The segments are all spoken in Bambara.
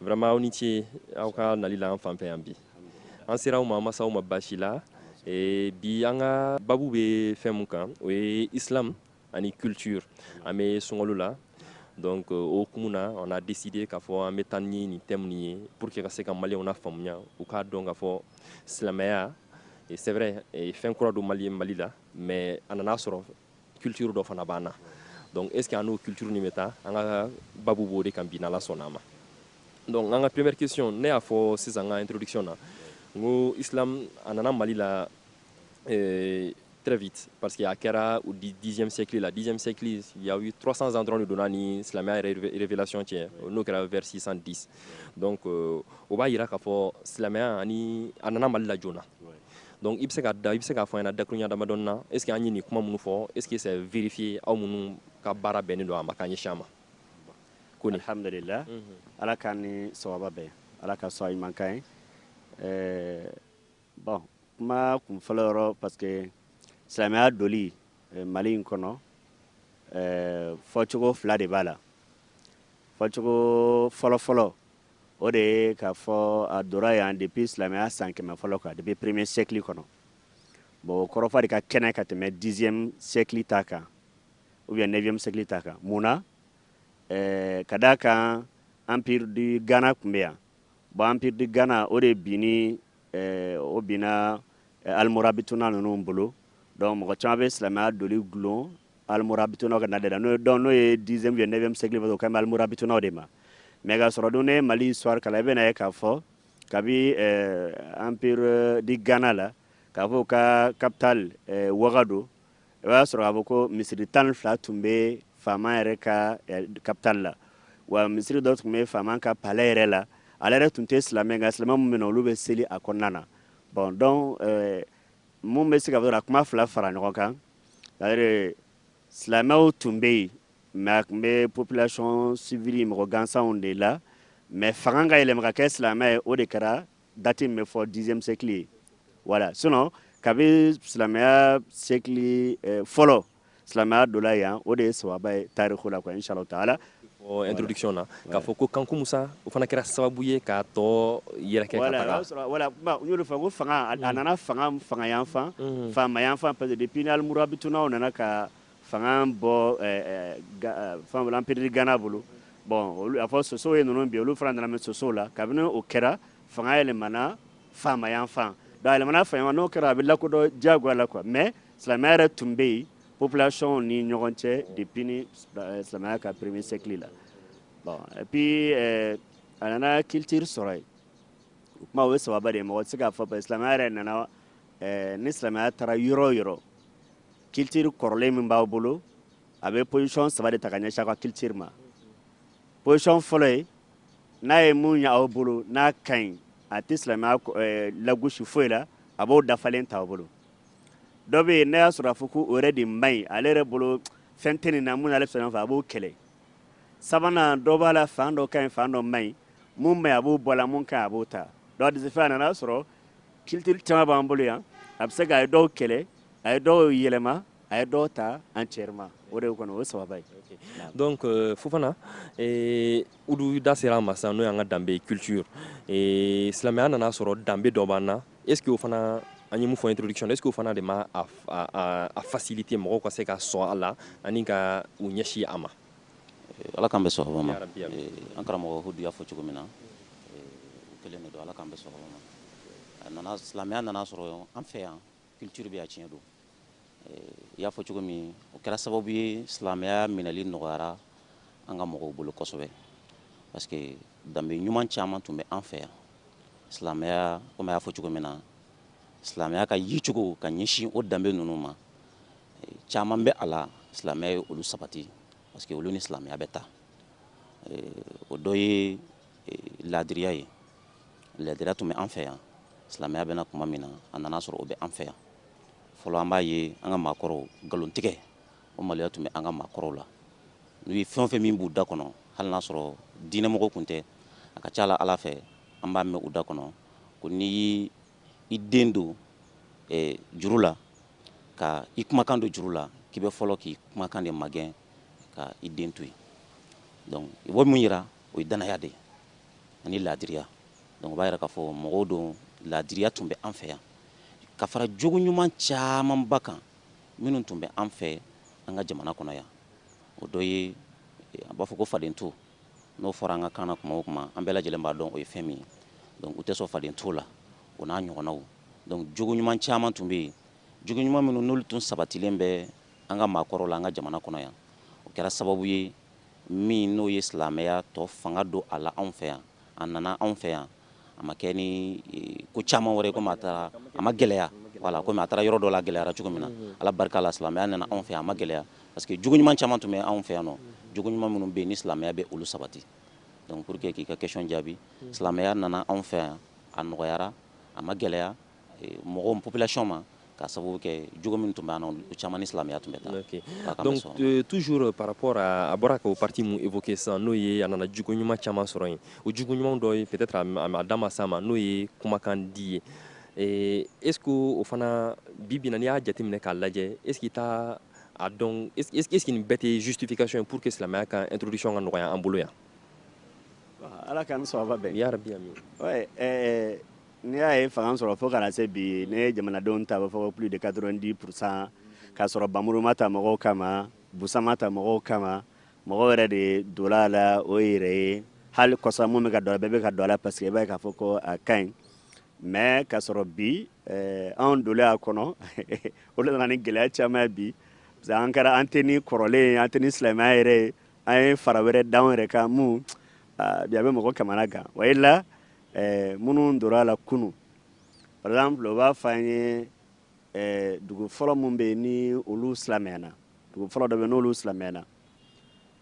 Vraiment aw ni ce aw ka nali la an fan fɛ yan bi an sera aw ma an ma se aw ma baasi la bi an ka babu bɛ fɛn min kan o ye isilamu ani culture an bɛ sunkalo la donc o kun na a décidé k'a fɔ an bɛ taa ni nin thème nin ye pour que ka se ka malienw nafaamuya u k'a dɔn k'a fɔ silamɛya c'est vrai fɛn kura don mali la mais a nana sɔrɔ culture dɔ fana b'an na donc est ce que a n'o culture nin bɛ taa an ka babu b'o de kan bi n'ala sɔnna a ma donc an ka première question ne y'a fɔ sisan n ka introduction na n ko islam a nana mali la euh, très vite parce que a kɛra au dixième siècle la dixième siècle il y a eu 300 ans dɔrɔn de don a ni silamɛya yɛrɛ révélation cɛ n'o kɛra vers 610 donc euh, o b'a yira k'a fɔ silamɛya ani a nana mali la joona Donc i bɛ se ka da i bɛ se k'a fɔ an ɲɛna dakurunɲɛ damadɔnin na est ce que an ye nin kuma minnu fɔ est ce que c'est vérifié aw minnu ka baara bɛnnen don a ma k'a ɲɛsin a ma ko nin alhamdulillah ala k'an ni sawaba bɛn ala ka sɔn ɲuman k'an ye eh, bon kuma kun fɔlɔ yɔrɔ parce que silamɛya doli eh, mali in kɔnɔ eh, fɔcogo fila de b'a la fɔcogo fɔlɔ fɔlɔ O de ye k'a fɔ a donna yan depuis silamɛya san kɛmɛ fɔlɔ kan depuis premier siècle kɔnɔ bon o kɔrɔfɔ de ka kɛnɛ ka tɛmɛ dixième siècle ta kan ou bien neuvième siècle ta kan mun na eh, ka d'a kan empire du Ghana tun bɛ yan bon empire du Ghana o de binni eh, o binna eh, almorabituna ninnu bolo donc mɔgɔ caman bɛ silamɛya doli gulon almorabituna ka nali de la n'o dɔn n'o ye dixième ou neuvième siècle o kan bɛ almorabituna de ma mais ka sɔrɔ dun n'i ye mali histoire kalan i bɛn'a ye k'a fɔ kabi euh, empire du ghana la k'a fɔ a ka capitale euh, wagadu i b'a sɔrɔ k'a fɔ ko misiri tan ni fila tun bɛ faama yɛrɛ ka euh, capitale la wa misiri dɔ tun bɛ faama ka palais yɛrɛ la ale yɛrɛ tun tɛ silamɛ nka silamɛ minnu bɛ na olu bɛ seli a kɔnɔna na bon donc mun bɛ se ka fɔ ka kuma fila fara ɲɔgɔn kan silamɛw tun bɛ yen mais a tun bɛ population civile mɔgɔ gansanw de la mais fanga ka yɛlɛma ka kɛ silamɛ ye o de kɛra dati min bɛ fɔ dixième siècle ye voilà sinon kabi silamɛya siècle fɔlɔ silamɛya donna yan o de ye sawaba ye tariku la quoi inchallahu taala introduction na k'a fɔ ko kanku musa o fana kɛra sababu ye k'a tɔgɔ yɛrɛkɛ ka taga voilà n y'o de fɔ ko fanga a mm. nana fanga fanga yan fan mm. faama yan fan parce que depuis ni almurabitunaw nana ka fanga bɔ eh, eh, eh, fɛn bolo empire du ghana bolo bon olu a fɔ sosow ye ninnu bin olu fana nana mais sosow la kabini o kɛra fanga yɛlɛmana faama yan fan donc a yɛlɛmana faama n'o kɛra a bɛ lakodɔn diyagoya la quoi mais silamɛya yɛrɛ tun bɛ yen population ni ɲɔgɔn cɛ depuis ni euh, silamɛya ka premier siècle la bon et puis euh, a nana culture sɔrɔ yen o kuma o ye sababuba de ye mɔgɔ tɛ se k'a fɔ parce que silamɛya yɛrɛ nana euh, ni silamɛya taara yɔrɔ o yɔrɔ culture kɔrɔlen min b'aw bolo a bɛ position saba de ta ka ɲɛsin a ka culture ma position fɔlɔ ye n'a ye mun y'aw bolo n'a ka ɲi a tɛ silamɛya lagosi foyi la a b'o dafalen ta aw bolo dɔ bɛ yen n'a y'a sɔrɔ a fɔ ko o yɛrɛ de man ɲi ale yɛrɛ bolo fɛn tɛ nin na mun ale fɛn fɛ a b'o kɛlɛ sabanan dɔ b'a la fan dɔ ka ɲi fan dɔ man ɲi mun man ɲi a b'o bɔ a la mun ka ɲi a b'o ta donc de ce fait a nana sɔrɔ culture caman b'an bolo yan a bɛ se ka a ye dɔw kɛlɛ a ye dɔw yɛlɛma a ye dɔw ta entièrement o de ye kɔni o ye sababuba ye donc euh, Fofana eh, Hudu da sera a ma sisan n'o y'an ka danbe culture eh, silamɛya nana sɔrɔ danbe dɔ b'an na est ce que o fana an ye mun fɔ introduction est ce que o fana de ma a, a, a facilité mɔgɔw ka se ka sɔn a la ani ka u ɲɛsi a ma eh, ala k'an bɛn sɔgɔma ma eh, an karamɔgɔ hudu y'a fɔ cogo min na eh, o kelen de don ala k'an bɛn sɔgɔma ma a nana silamɛya nana sɔrɔ an fɛ yan culture bɛ yan tiɲɛ don i y'a fɔ cogo min o kɛra sababu ye silamɛya minɛli nɔgɔyara an ka mɔgɔw bolo kosɛbɛ parce que danbe ɲuman caman tun bɛ an fɛ yan silamɛya komi a y'a fɔ cogo min na silamɛya ka yecogo ka ɲɛsin o danbe ninnu ma caman bɛ a la silamɛya ye olu sabati parce que olu ni silamɛya bɛ taa o dɔ ye laadiriya ye Laadiriya tun bɛ an fɛ yan silamɛya bɛ na tuma min na a nana sɔrɔ o bɛ an fɛ yan fɔlɔ an b'a ye an ka maakɔrɔw nkalontigɛ o maloya tun bɛ an ka maakɔrɔw la n'u ye fɛn o fɛn min b'u da kɔnɔ hali n'a sɔrɔ diinɛmɔgɔ tun tɛ a ka ca la ala fɛ an b'a mɛn u da kɔnɔ ko n'i y'i i den don eh, juru la ka i kumakan don juru la k'i bɛ fɔlɔ k'i kumakan de magɛn ka i den to yen donc i b'o min yira o ye danaya de ye ani laadiriya donc o b'a yira k'a fɔ mɔgɔw don laadiriya tun bɛ an fɛ yan ka fara jogo ɲuman camanba kan minnu tun bɛ an fɛ an ka jamana kɔnɔ yan o dɔ ye a b'a fɔ ko faden to n'o fɔra an ka kan na kuma o kuma an bɛɛ lajɛlen b'a dɔn o ye fɛn min ye donc u tɛ sɔn faden to la o n'a ɲɔgɔnnaw donc jogo ɲuman caman tun bɛ yen jogo ɲuman minnu n'olu tun sabatilen bɛ an ka maakɔrɔw la an ka jamana kɔnɔ yan o kɛra sababu ye min n'o ye silamɛya to fanga don a la anw fɛ yan, a nana anw fɛ yan, a ma kɛ ni ko caman wɛrɛ ye komi a taara, a ma gɛlɛya voilà komi a taara yɔrɔ dɔ la a gɛlɛyara cogo min na, Ala barika la silamɛya nana anw fɛ yan a ma gɛlɛya parce que jogo ɲuman caman tun bɛ anw fɛ yan nɔ, jogo ɲuman minnu bɛ yen ni silamɛya bɛ olu sabati donc pour que k'i ka question jaabi, silamɛya nana anw fɛ yan a nɔgɔyara a ma gɛlɛya. mɔgɔw population ma k'a sababu kɛ jogo min tun bɛ an na o caman ni silamɛya tun bɛ taa okay. donc euh, toujours euh, par rapport à a bɔra ka o partie mun évoquer sisan n'o ye a nana jogo ɲuman caman sɔrɔ yen o jogo ɲumanw dɔ ye peut-être a da ma s'a ma n'o ye kumakan di ye eh, est ce que o fana bi bi na n'i y'a jateminɛ k'a lajɛ est ce que i t'a a dɔn est ce que nin bɛɛ tɛ justification ye pour que silamɛya ka introduction ka nɔgɔya an bolo yan ala k'an ni sababa bɛn yarabi ami ouais, eh, N'i y'a ye fanga sɔrɔ fo ka na se bi n'i ye jamanadenw ta i b'a fɔ plus de 90 pour cent k'a sɔrɔ npanmuru ma ta mɔgɔw kama busan ma ta mɔgɔw kama mɔgɔw yɛrɛ de donna a la o yɛrɛ ye hali kɔsa mun bɛ ka don a bɛɛ bɛ ka don a la parce que i b'a ye k'a fɔ ko a ka ɲi mais k'a sɔrɔ bi eh, anw donnen a kɔnɔ o de nana ni gɛlɛya caman ye bi parce que an kɛra an tɛ ni kɔrɔlen ye an tɛ ni silamɛya yɛrɛ ye an ye fara wɛrɛ d'anw yɛrɛ kan mun ah, bi a bɛ mɔgɔ kamanagan voilà Ɛɛ minnu donna a la kunu par exemple u b'a fɔ an ye ɛɛ dugu fɔlɔ minnu bɛ yen ni olu silamɛyana dugu fɔlɔ dɔ bɛ n'olu silamɛyana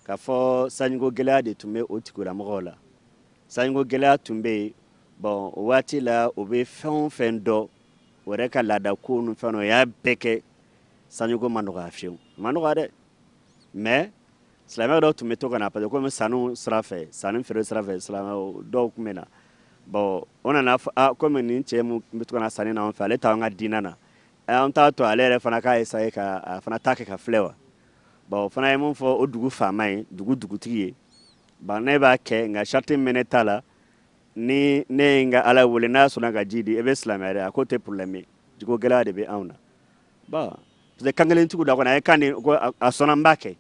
k'a fɔ sanjiko gɛlɛya de tun bɛ o tigilamɔgɔw la sanjiko gɛlɛya tun bɛ yen bon o waati la u bɛ fɛn o fɛn dɔn u yɛrɛ ka laadako ninnu fɛ u y'a bɛɛ kɛ sanjiko ma nɔgɔya fiyewu ma nɔgɔya dɛ mais silamɛ dɔw tun bɛ to ka na parce que komi sanu sira fɛ sanu feere sira fɛ silamɛ dɔw tun bɛ na bon u nana fɔ ah komi nin cɛ mun bɛ to ka na sanni na an fɛ ale t'an ka diinɛ na eh, an t'a to ale yɛrɛ fana k'a essayer ka a fana ta kɛ ka filɛ wa bon o fana ye mun fɔ o dugu faama ye dugu dugutigi ye bon ne b'a kɛ nka sarati min bɛ ne ta la ni ne ye n ka ala wele n'a sɔnna ka ji di e bɛ silamɛya dɛ a k'o tɛ problème ye jiko gɛlɛya de bɛ anw na bon parce que kankelentigiw da kɔnɔ a ye kan di ko a sɔnna n b'a kɛ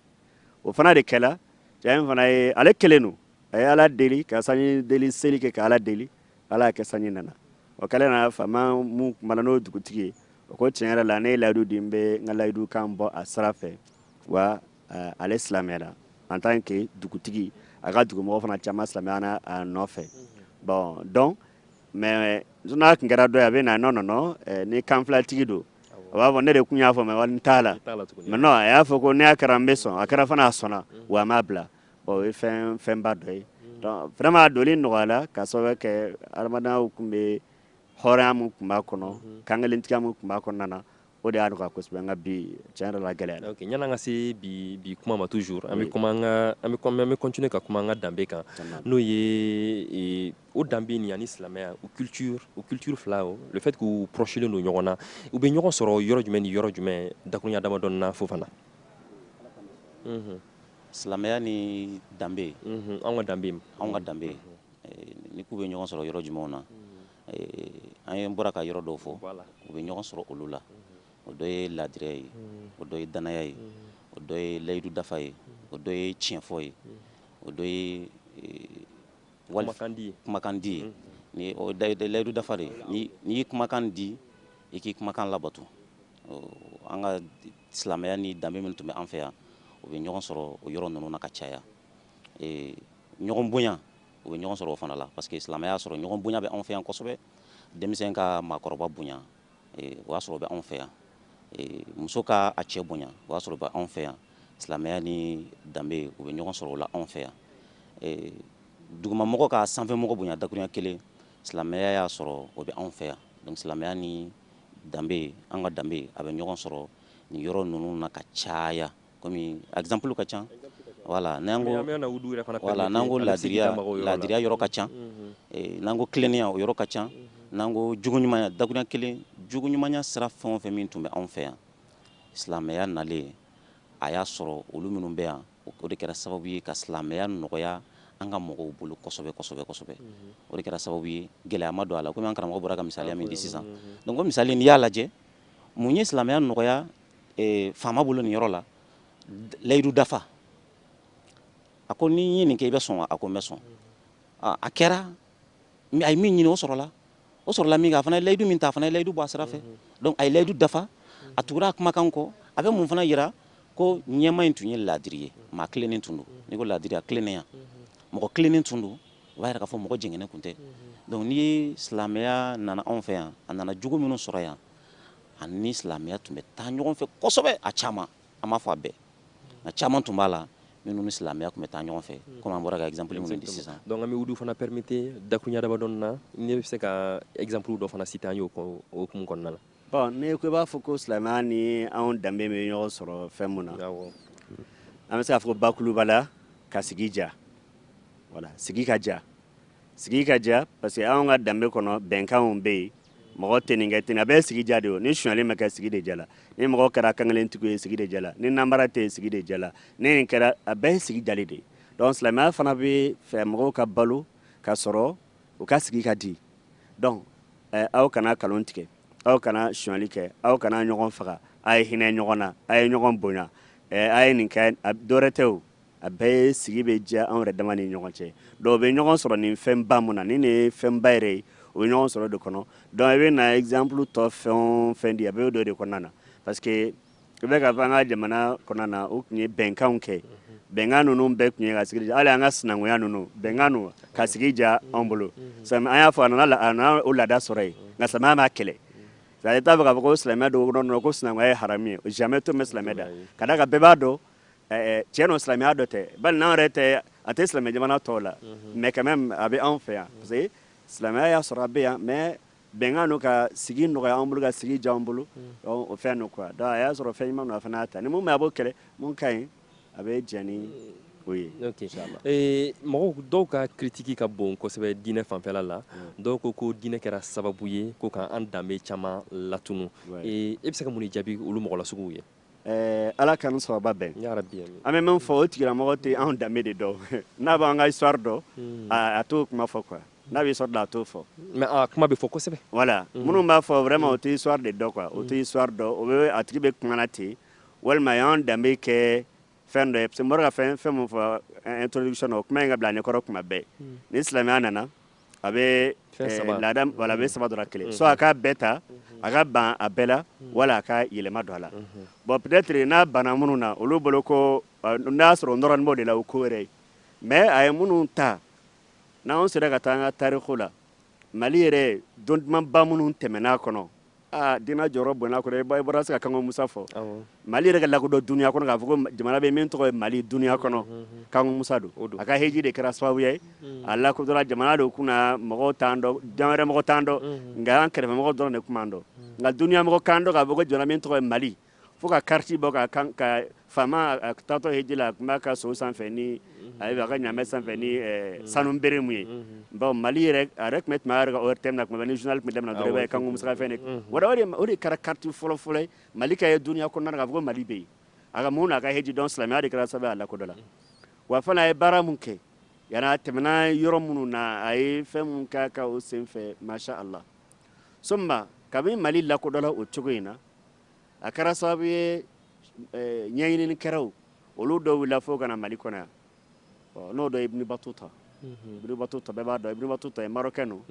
o fana de kɛla cɛ in fana ye ale kelen don a ye ala deli ka sanji deli seli kɛ ka ala deli ala y'a kɛ sanji nana o kɛlen na faama mun kumana n'o dugutigi ye o ko tiɲɛ yɛrɛ la ne ye layidu di n bɛ n ka layidu kan bɔ a sira fɛ wa eh, ale silamɛyala en tant que dugutigi a ka dugumɔgɔ fana caman silamɛyana a nɔfɛ bon donc mais n'a tun kɛra dɔ ye a bɛ na non non non ni kanfilatigi don, awɔ, a b'a fɔ ne de tun y'a fɔ mais walayi n t'a la, mais non a y'a fɔ ko n'a kɛra n bɛ sɔn a kɛra fana a sɔnna wa a m'a bila bon o ye fɛn fɛnba dɔ ye donc vraiment a donni nɔgɔyala k'a sababuya kɛ hadamadenya tun bɛ hɔrɔnya min tun b'a kɔnɔ kankelentigiya min tun b'a kɔnɔna na O de y'a nɔgɔya kosɛbɛ nka bi tiɲɛ yɛrɛ la a gɛlɛyara. Ok yan'an ka se bi bi kuma ma toujours an bɛ kuma an ka an bɛ an bɛ continuer ka kuma an ka danbe kan n'o ye ee o danbe nin ani silamɛya o culture o culture fila o le fait que u prochelen don ɲɔgɔn na u bɛ ɲɔgɔn sɔrɔ yɔrɔ jumɛn ni yɔrɔ jumɛn dakuruɲa damadɔni na Fofana. Unhun. Silamɛya ni danbe. Unhun anw ka danbe. Anw ka danbe ni k'u bɛ ɲɔgɔn sɔrɔ yɔrɔ jumɛnw na. an ye bɔra ka yɔrɔ dɔw fɔ u bɛ ɲɔgɔn sɔrɔ olu la o dɔ ye laadiri ye o dɔ ye danaya ye o dɔ ye layidu dafa ye o dɔ ye tiɲɛfɔ ye o dɔ ye kumakandi ye ni layidu dafa de n'i ye kumakan di i k'i kumakan labato an ka silamɛya ni danbe min tun bɛ an fɛ yan u bɛ ɲɔgɔn sɔrɔ o yɔrɔ ninnu na ka caya ɲɔgɔn bonya u bɛ ɲɔgɔn sɔrɔ o fana la parce que silamɛya y'a sɔrɔ ɲɔgɔn bonya bɛ anw fɛ yan kosɛbɛ denmisɛn ka maakɔrɔba bonya eh, o y'a sɔrɔ o bɛ anw fɛ yan eh, muso ka a cɛ bonya o y'a sɔrɔ o bɛ anw fɛ yan silamɛya ni danbe u bɛ ɲɔgɔn sɔrɔ o la anw fɛ yan eh, dugumamɔgɔ ka sanfɛmɔgɔ bonya dakurunya kelen silamɛya y'a sɔrɔ o bɛ anw fɛ yan donc silamɛya ni danbe an ka danbe a bɛ ɲɔgɔn sɔrɔ nin yɔrɔ ninnu na ka caya kɔmi exemple ka ca voilà n'an ko voilà n'an ko laadiriya laadiriya yɔrɔ ka ca mhm. eh, n'an ko tilennenya o yɔrɔ ka ca mhm. n'an ko jogoɲumanya dakuruɲa kelen jogoɲumanya sira fɛn o fɛn min tun bɛ anw fɛ yan silamɛya nalen a y'a sɔrɔ olu minnu bɛ yan o de kɛra sababu ye ka silamɛya nɔgɔya an ka mɔgɔw bolo kosɛbɛ kosɛbɛ kosɛbɛ mhm. o de kɛra sababu ye gɛlɛya ma don a la komi an karamɔgɔ bɔra ka misaliya min di sisan donc o misali n'i y'a lajɛ Mun ye silamɛya nɔgɔya eh, faama bolo nin yɔrɔ la layidu dafa a ko ni n ye nin kɛ i bɛ sɔn a ko n bɛ sɔn a kɛra a ye min ɲini o sɔrɔla o sɔrɔla min a fana ye layidu min ta a fana ye layidu bɔ a sira fɛ donc a ye layidu dafa a tugura a kumakan kɔ a bɛ mun fana yira ko ɲɛmaa in tun ye laadiri ye maa tilennen tun don n'i ko laadiri a tilennenya mɔgɔ tilennen tun don o b'a yira k'a fɔ mɔgɔ jɛngɛnen tun tɛ donc n'i ye silamɛya nana anw fɛ yan a nana jogo minnu sɔrɔ yan ani silamɛya tun bɛ taa ɲɔgɔn fɛ kosɛbɛ a caman an m'a fɔ a bɛɛ nka caman tun b'a la minnu ni silamɛya tun bɛ taa ɲɔgɔn fɛ hmm. komi an bɔra ka exemple minnu di sisan donc an bɛ o de fana permettre dakuruɲa damadɔnin na ne bɛ se ka exemple dɔ fana citer an y'o o hukumu kɔnɔna la Bon ne ko i b'a fɔ ko silamɛya ni anw danbe bɛ ɲɔgɔn sɔrɔ fɛn min na, awɔ, an bɛ se k'a fɔ bakuruba la ka sigi diya, voilà sigi ka diya, sigi ka diya parce que anw ka danbe kɔnɔ bɛnkanw bɛ yen mɔgɔ tɛ nin kɛ ten a bɛɛ sigi diya de ye ni sonyali ma kɛ sigi de diyala ni mɔgɔ kɛra kankelentigiw ye sigi de diyala ni namara tɛ yen sigi de diyala ni nin kɛra a bɛɛ ye sigi diyali de ye donc silamɛya fana b'a fɛ mɔgɔw ka balo ka sɔrɔ u ka sigi ka di donc aw kana kalon tigɛ aw kana sonyali kɛ aw kana ɲɔgɔn faga a ye hinɛ ɲɔgɔn na a ye ɲɔgɔn bonya a ye nin kɛ dɔwɛrɛ tɛ o a bɛɛ ye sigi bɛ diya anw yɛrɛ dama ni ɲɔgɔn cɛ donc u bɛ ɲɔgɔn sɔrɔ nin fɛn ba min na ni nin ye fɛn ba yɛrɛ ye u bɛ ɲɔgɔn sɔrɔ o de kɔnɔ donc i bɛ na exemple tɔ fɛn o fɛn di a bɛ don o de kɔnɔna na parce u bɛ k'a fɔ an ka jamana kɔnɔna na u tun ye bɛnkanw kɛ bɛnkan ninnu bɛɛ tun ye ka sigi hali an ka sinankunya ninnu bɛnkan don ka sigi diya anw bolo an y'a fɔ a o laada sɔrɔ yen nka silamɛya b'a kɛlɛ a t'a fɛ k'a fɔ ko silamɛ don dɔrɔn ko silamɛya ye hami ye o silamɛmɛ to bɛ silamɛ da ka da ka bɛɛ b'a dɔn cɛ dɔ silamɛya dɔ tɛ bali n'an yɛrɛ tɛ a tɛ silamɛ jamana tɔw la mais quand même a bɛ anw fɛ yan parce silamɛya y'a sɔrɔ a bɛ yan mais Bɛnkan don ka sigi nɔgɔya an bolo ka sigi diya an bolo o fɛn don quoi donc a y'a sɔrɔ fɛn ɲuman don a fana y'a ta ni mun man ɲi a b'o kɛlɛ mun ka ɲi a bɛ jɛn ni o ye inchallah ee mɔgɔw dɔw ka critique ka bon kosɛbɛ diinɛ fanfɛla la dɔw ko ko diinɛ kɛra sababu ye ko ka an danbe caman latunu ee e bɛ se ka mun de jaabi olu mɔgɔ masuguw ye Eh, ala ka sababa bɛn an bɛ min fɔ o tigilamɔgɔ tɛ anw danbe de dɔn n'a b'an ka histoire dɔn hmm. a t'o kuma fɔ quoi n'a bɛ histoire dɔn a t'o fɔ mais a kuma bɛ fɔ kosɛbɛ voilà hmm. minnu b'a fɔ vraiment u tɛ histoire de dɔn quoi u tɛ hmm. histoire dɔn o bɛ a tigi bɛ kuma na ten walima a y'an danbe kɛ fɛn dɔ ye parce que mori ka fɛn fɛn mun fɔ eh, introduction o kuma in ka bila ne kɔrɔ kuma bɛɛ hmm. ni silamɛya nana a bɛ eh, laada wala a bɛ saba dɔrɔn kelen hmm. soit a k'a bɛɛ ta hmm. a ka ban a bɛɛ la wala a ka yɛlɛma don a la bon peut-être n'a banna minnu na olu bolo ko eh, n'a sɔrɔ o nɔrɔnin b'o de la o ko wɛrɛ ye mais a ye minnu ta n'an sera ka taa an ka tariku la mali yɛrɛ don dumanba minnu tɛmɛn'a kɔnɔ Aa diinɛ jɔyɔrɔ b'o la kɔrɔ i bɛ se ka kanko musa fɔ mali yɛrɛ ka lakɔdɔn dunya kɔnɔ k'a fɔ ko jamana bɛ min tɔgɔ ye mali dunya kɔnɔ kanko musa don a ka hiji de kɛra sababu ye a lakɔdɔnna jamana de tun mɔgɔ t'a dɔn yɔrɔ jan mɔgɔ t'a dɔn nka an kɛrɛfɛ mɔgɔ dɔrɔn de tun b'a dɔn nka dunya mɔgɔ k'a dɔn k'a fɔ ko jamana min tɔgɔ ye mali fo ka kariti bɔ k'an ka faama taatɔ ye hiji la a tun b'a ka so sanfɛ ni a a ka ɲamɛ sanfɛ ni sanu bere mun ye baw mali yɛrɛ yɛrɛ tun tun yɛrɛ o te na tuma ni zli tun daminɛ dɔrɔn ye kanko musa fɛn de o o de kɛra kariti fɔlɔfɔlɔ mali ka ye dunya kɔnɔna k'a fɔ mali bɛ yen a ka mun n'a ka hiji don silamɛya de kɛra sababu a lakɔdɔnna wa fana a ye baara min kɛ yan a tɛmɛna yɔrɔ minnu na a ye fɛn min kɛ ka o senfɛ machallah so kabini mali lakɔdɔnna o cogo in na a kɛra sababu ye ɲɛɲinikɛlaw olu dɔ wulila fo ka na mali kɔnɔ n'o dɔ ibn battuta ibn battuta b'a dɔn ibn battuta cɛ don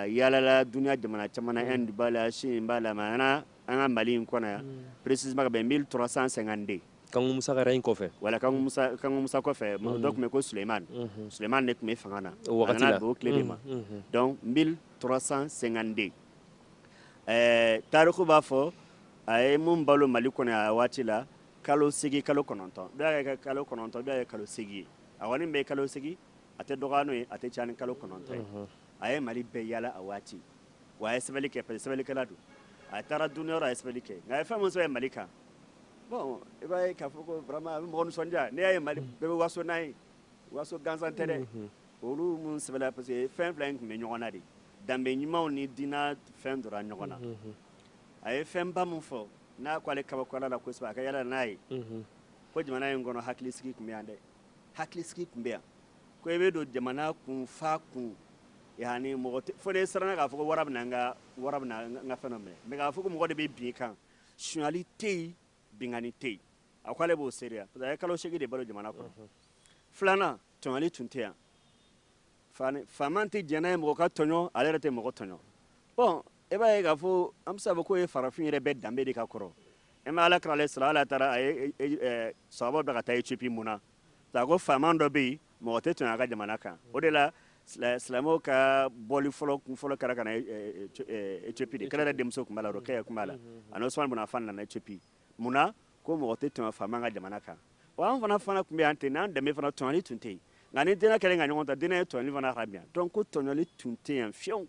yaalala dunya jamana caman b'a la sen bila an ka mali in kɔnɔ yan précisément treize cent cinquante-deux kanko musa in kɔfɛ wala musa kɔfɛ maa dɔ tun bɛ ko suleymani suleymani de tun bɛ fanga na o tile ma en treize cent cinquante-deux ɛɛ tariku b'a fɔ a ye mun balo mali kɔnɔ a waati la kalo seegin kalo kɔnɔntɔn dɔ y'a kɛ kalo kɔnɔntɔn dɔ y'a kɛ kalo seegin ye a kɔni bɛ kalo seegin a tɛ dɔgɔya n'o ye a tɛ caya ni kalo kɔnɔntɔn ye a ye mali bɛɛ yaala a waati wa a ye sɛbɛnni kɛ parce que sɛbɛnnikɛla don a taara duniya yɔrɔ a ye sɛbɛnni kɛ nka a ye fɛn min sɔrɔ ye mali kan bon i b'a ye k'a fɔ ko vraiment a bɛ mɔgɔ nisɔndiya n'i y'a ye mali bɛɛ bɛ waso n'a ye waso gansan tɛ dɛ Olu minnu sɛbɛla parce que fɛn fila in tun bɛ ɲɔgɔn na de, danbe ɲumanw ni diinɛ fɛn donna ɲɔgɔn na, unhun, a ye fɛnba min fɔ n'a ko ale kabakoyala a la kosɛbɛ a ka yaala n'a ye, unhun, ko jamana in kɔnɔ hakilisigi tun bɛ yan dɛ, hakilisigi tun bɛ yan, ko i bɛ don jamana kun f'a kun, yani mɔgɔ tɛ, fo n'i siranna k'a fɔ ko wara bɛna n ka wara bɛna n ka fɛn dɔ minɛ mais k'a fɔ ko mɔgɔ de bɛ bin i kan, sonyali tɛ yen, binkanni tɛ yen, a ko ale b'o seereya parce que a ye kalo seegin de balo jamana kɔnɔ, unhun, filanan tɔɲɔli tun tɛ yan faama tɛ jɛn n'a ye mɔgɔ ka tɔɲɔ ale yɛrɛ tɛ mɔgɔ tɔɲɔ bon e b'a ye k'a fɔ an bɛ se k'a fɔ k'o ye farafin yɛrɛ bɛɛ danbe de ka kɔrɔ e ma ala kira salla ala taala a ye e, e, e, sahaba bila ka taa ethiopie mun na a ko faama dɔ bɛ yen mɔgɔ tɛ tɔɲɔ a ka jamana kan o de la silamɛw ka boli fɔlɔ kun fɔlɔ kɛra ka na ethiopie de kira yɛrɛ denmuso tun b'a la o cɛ yɛrɛ tun b'a la ani osman bun afan nana ethiopie mun na ko mɔgɔ tɛ tɔɲɔ faama ka jamana kan wa an fana fana tun bɛ yan ten n'an danbe fana tɔɲɔli tun tɛ yen nka ni diinɛ kɛlen ka ɲɔgɔn ta diinɛ ye tɔɲɔli fana haramuya donc ko tɔɲɔli tun tɛ yan fiyewu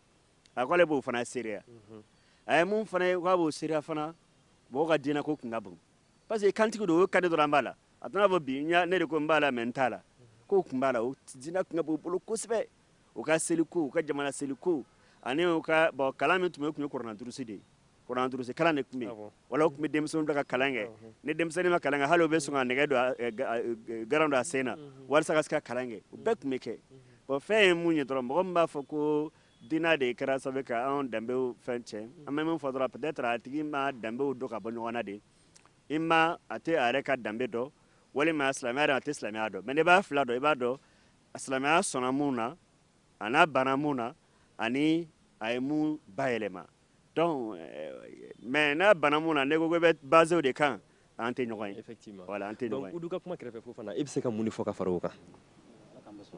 a ko ale b'o fana seereya mhm. a ye mun fana ye k'a b'o seereya fana mɔgɔ ka diinɛ ko kun ka bon parce que kantigi don o k'a di dɔrɔn an b'a la a tɛna fɔ bi ne de ko n b'a la mais n t'a la mhm. k'o kun b'a la o diinɛ kun ka bon u bolo kosɛbɛ u ka seliko u ka jamana seliko ani u ka bon kalan min tun bɛ tun ye kuranna durusi de ye kuranna durusi kalan de tun bɛ yen wa u tun bɛ denmisɛnninw bila ka kalan kɛ ni denmisɛnnin ma kalan kɛ hali u bɛ sɔn ka nɛgɛ don garan don a sen na walasa ka se ka kalan kɛ o bɛɛ tun bɛ kɛ bon fɛn ye min ye dɔrɔn mɔgɔ min b'a fɔ ko diinɛ de kɛra sababu ka anw danbew fɛn tiɲɛ an bɛ min fɔ dɔrɔn peut-être a tigi ma danbew dɔn ka bɔ ɲɔgɔn na de i ma a tɛ a yɛrɛ ka danbe dɔn walima silamɛya dɔn a tɛ silamɛya dɔn mais n'i b'a fila dɔn i b'a dɔn a silamɛya sɔnna mun na ani a banna mun na ani a ye mun bayɛlɛma donc euh, mais n'a banna mun na ne ko ko bɛ basew de kan an tɛ ɲɔgɔn ye effectivement voilà an tɛ ɲɔgɔn ye donc udu ka kuma kɛrɛfɛ fofana i bɛ se ka mun de fɔ ka fara o kan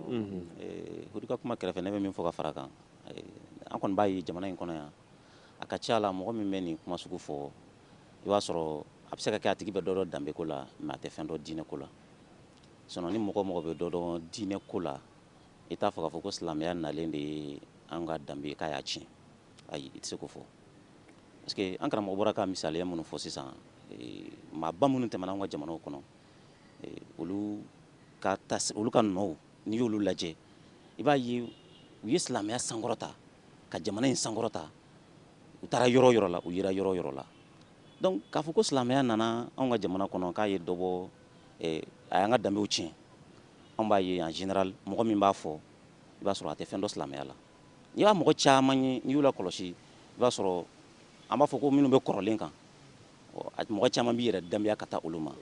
mhm. eh, udu ka kuma kɛrɛfɛ ne bɛ min fɔ ka fara kan eh, an kɔni b'a ye jamana in kɔnɔ yan a ka ca la mɔgɔ min bɛ nin kuma sugu fɔ i b'a sɔrɔ a bɛ se ka kɛ a tigi bɛ dɔ dɔn danbeko la mais a tɛ fɛn dɔn diinɛko la Sinon ni mɔgɔ o mɔgɔ bɛ dɔ dɔn diinɛ ko la, i t'a fɔ k'a fɔ ko silamɛya nalen de ye an ka danbe ye k'a y'a tiɲɛ. Ayi, i tɛ se k'o fɔ. Parce que an karamɔgɔ bɔra ka misaliya minnu fɔ sisan, maaba minnu tɛmɛna anw ka jamanaw kɔnɔ, olu ka traces olu ka nɔw n'i y'olu lajɛ, i b'a ye u ye silamɛya sankɔrɔta, ka jamana in sankɔrɔta, u taara yɔrɔ o yɔrɔ la, u yera yɔrɔ o yɔrɔ la. Donc k'a fɔ ko silamɛya nana anw ka jamana kɔnɔ k'a ye dɔ bɔ Eh, a y'an ka danbew tiɲɛ an b'a ye en général mɔgɔ min b'a fɔ i b'a sɔrɔ a tɛ fɛn dɔn silamɛya la n'i b'a mɔgɔ caman ye n'i y'u lakɔlɔsi i b'a sɔrɔ an b'a fɔ ko minnu bɛ kɔrɔlen kan mɔgɔ caman b'i yɛrɛ danbeya ka taa olu ma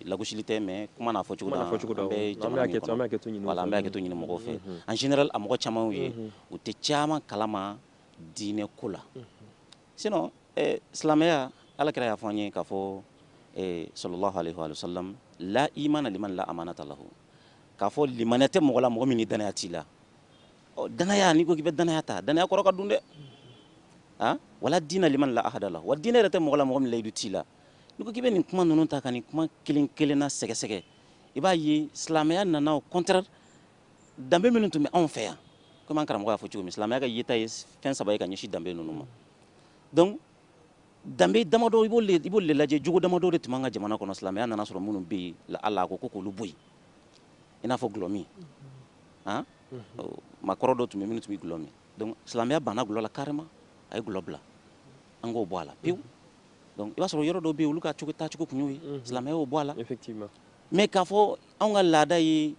lagosili tɛ mais kuma n'a fɔcogo la an bɛ jamana min kɔnɔ voilà an bɛ hakɛto ɲini mɔgɔw fɛ mhm. en général a mɔgɔ caman ye mhm. u tɛ caman kalama diinɛ ko la mhm. sinon silamɛya ala kira y'a fɔ an ye k'a fɔ salla allahu alayhi wa sallam la imana liman la amanata lahu k'a fɔ limaniya tɛ mɔgɔ la mɔgɔ min dannaya t'i la dannaya n'i ko k'i bɛ dannaya ta dannaya kɔrɔ ka dun dɛ wa la dina liman la ahda lahu wa diinɛ yɛrɛ tɛ mɔgɔ la mɔgɔ min layidu t'i la n'i ko k'i bɛ nin kuma ninnu ta ka nin kuma kelen kelenna sɛgɛsɛgɛ i b'a ye silamɛya nana contraire danbe minnu tun bɛ anw fɛ yan komi an karamɔgɔ y'a fɔ cogo min silamɛya ka yeta ye fɛn saba ye ka ɲɛsin danbe ninnu ma donc danbe damadɔ i b'olu de lajɛ jogo damadɔ de tun b'an ka jamana kɔnɔ silamɛya nana sɔrɔ minnu bɛ yen la ala ko ko k'olu bɔ yen i n'a fɔ dɔlɔmin han maakɔrɔ dɔ tun bɛ minnu tun bɛ dɔlɔ min donc silamɛya banna dɔlɔ la carrément a ye dɔlɔ bila an k'o bɔ a la pewu donc i b'a sɔrɔ yɔrɔ dɔ bɛ yen olu ka cogo taacogo tun y'o ye silamɛya y'o bɔ a la effectivement mais k'a fɔ anw ka laada ye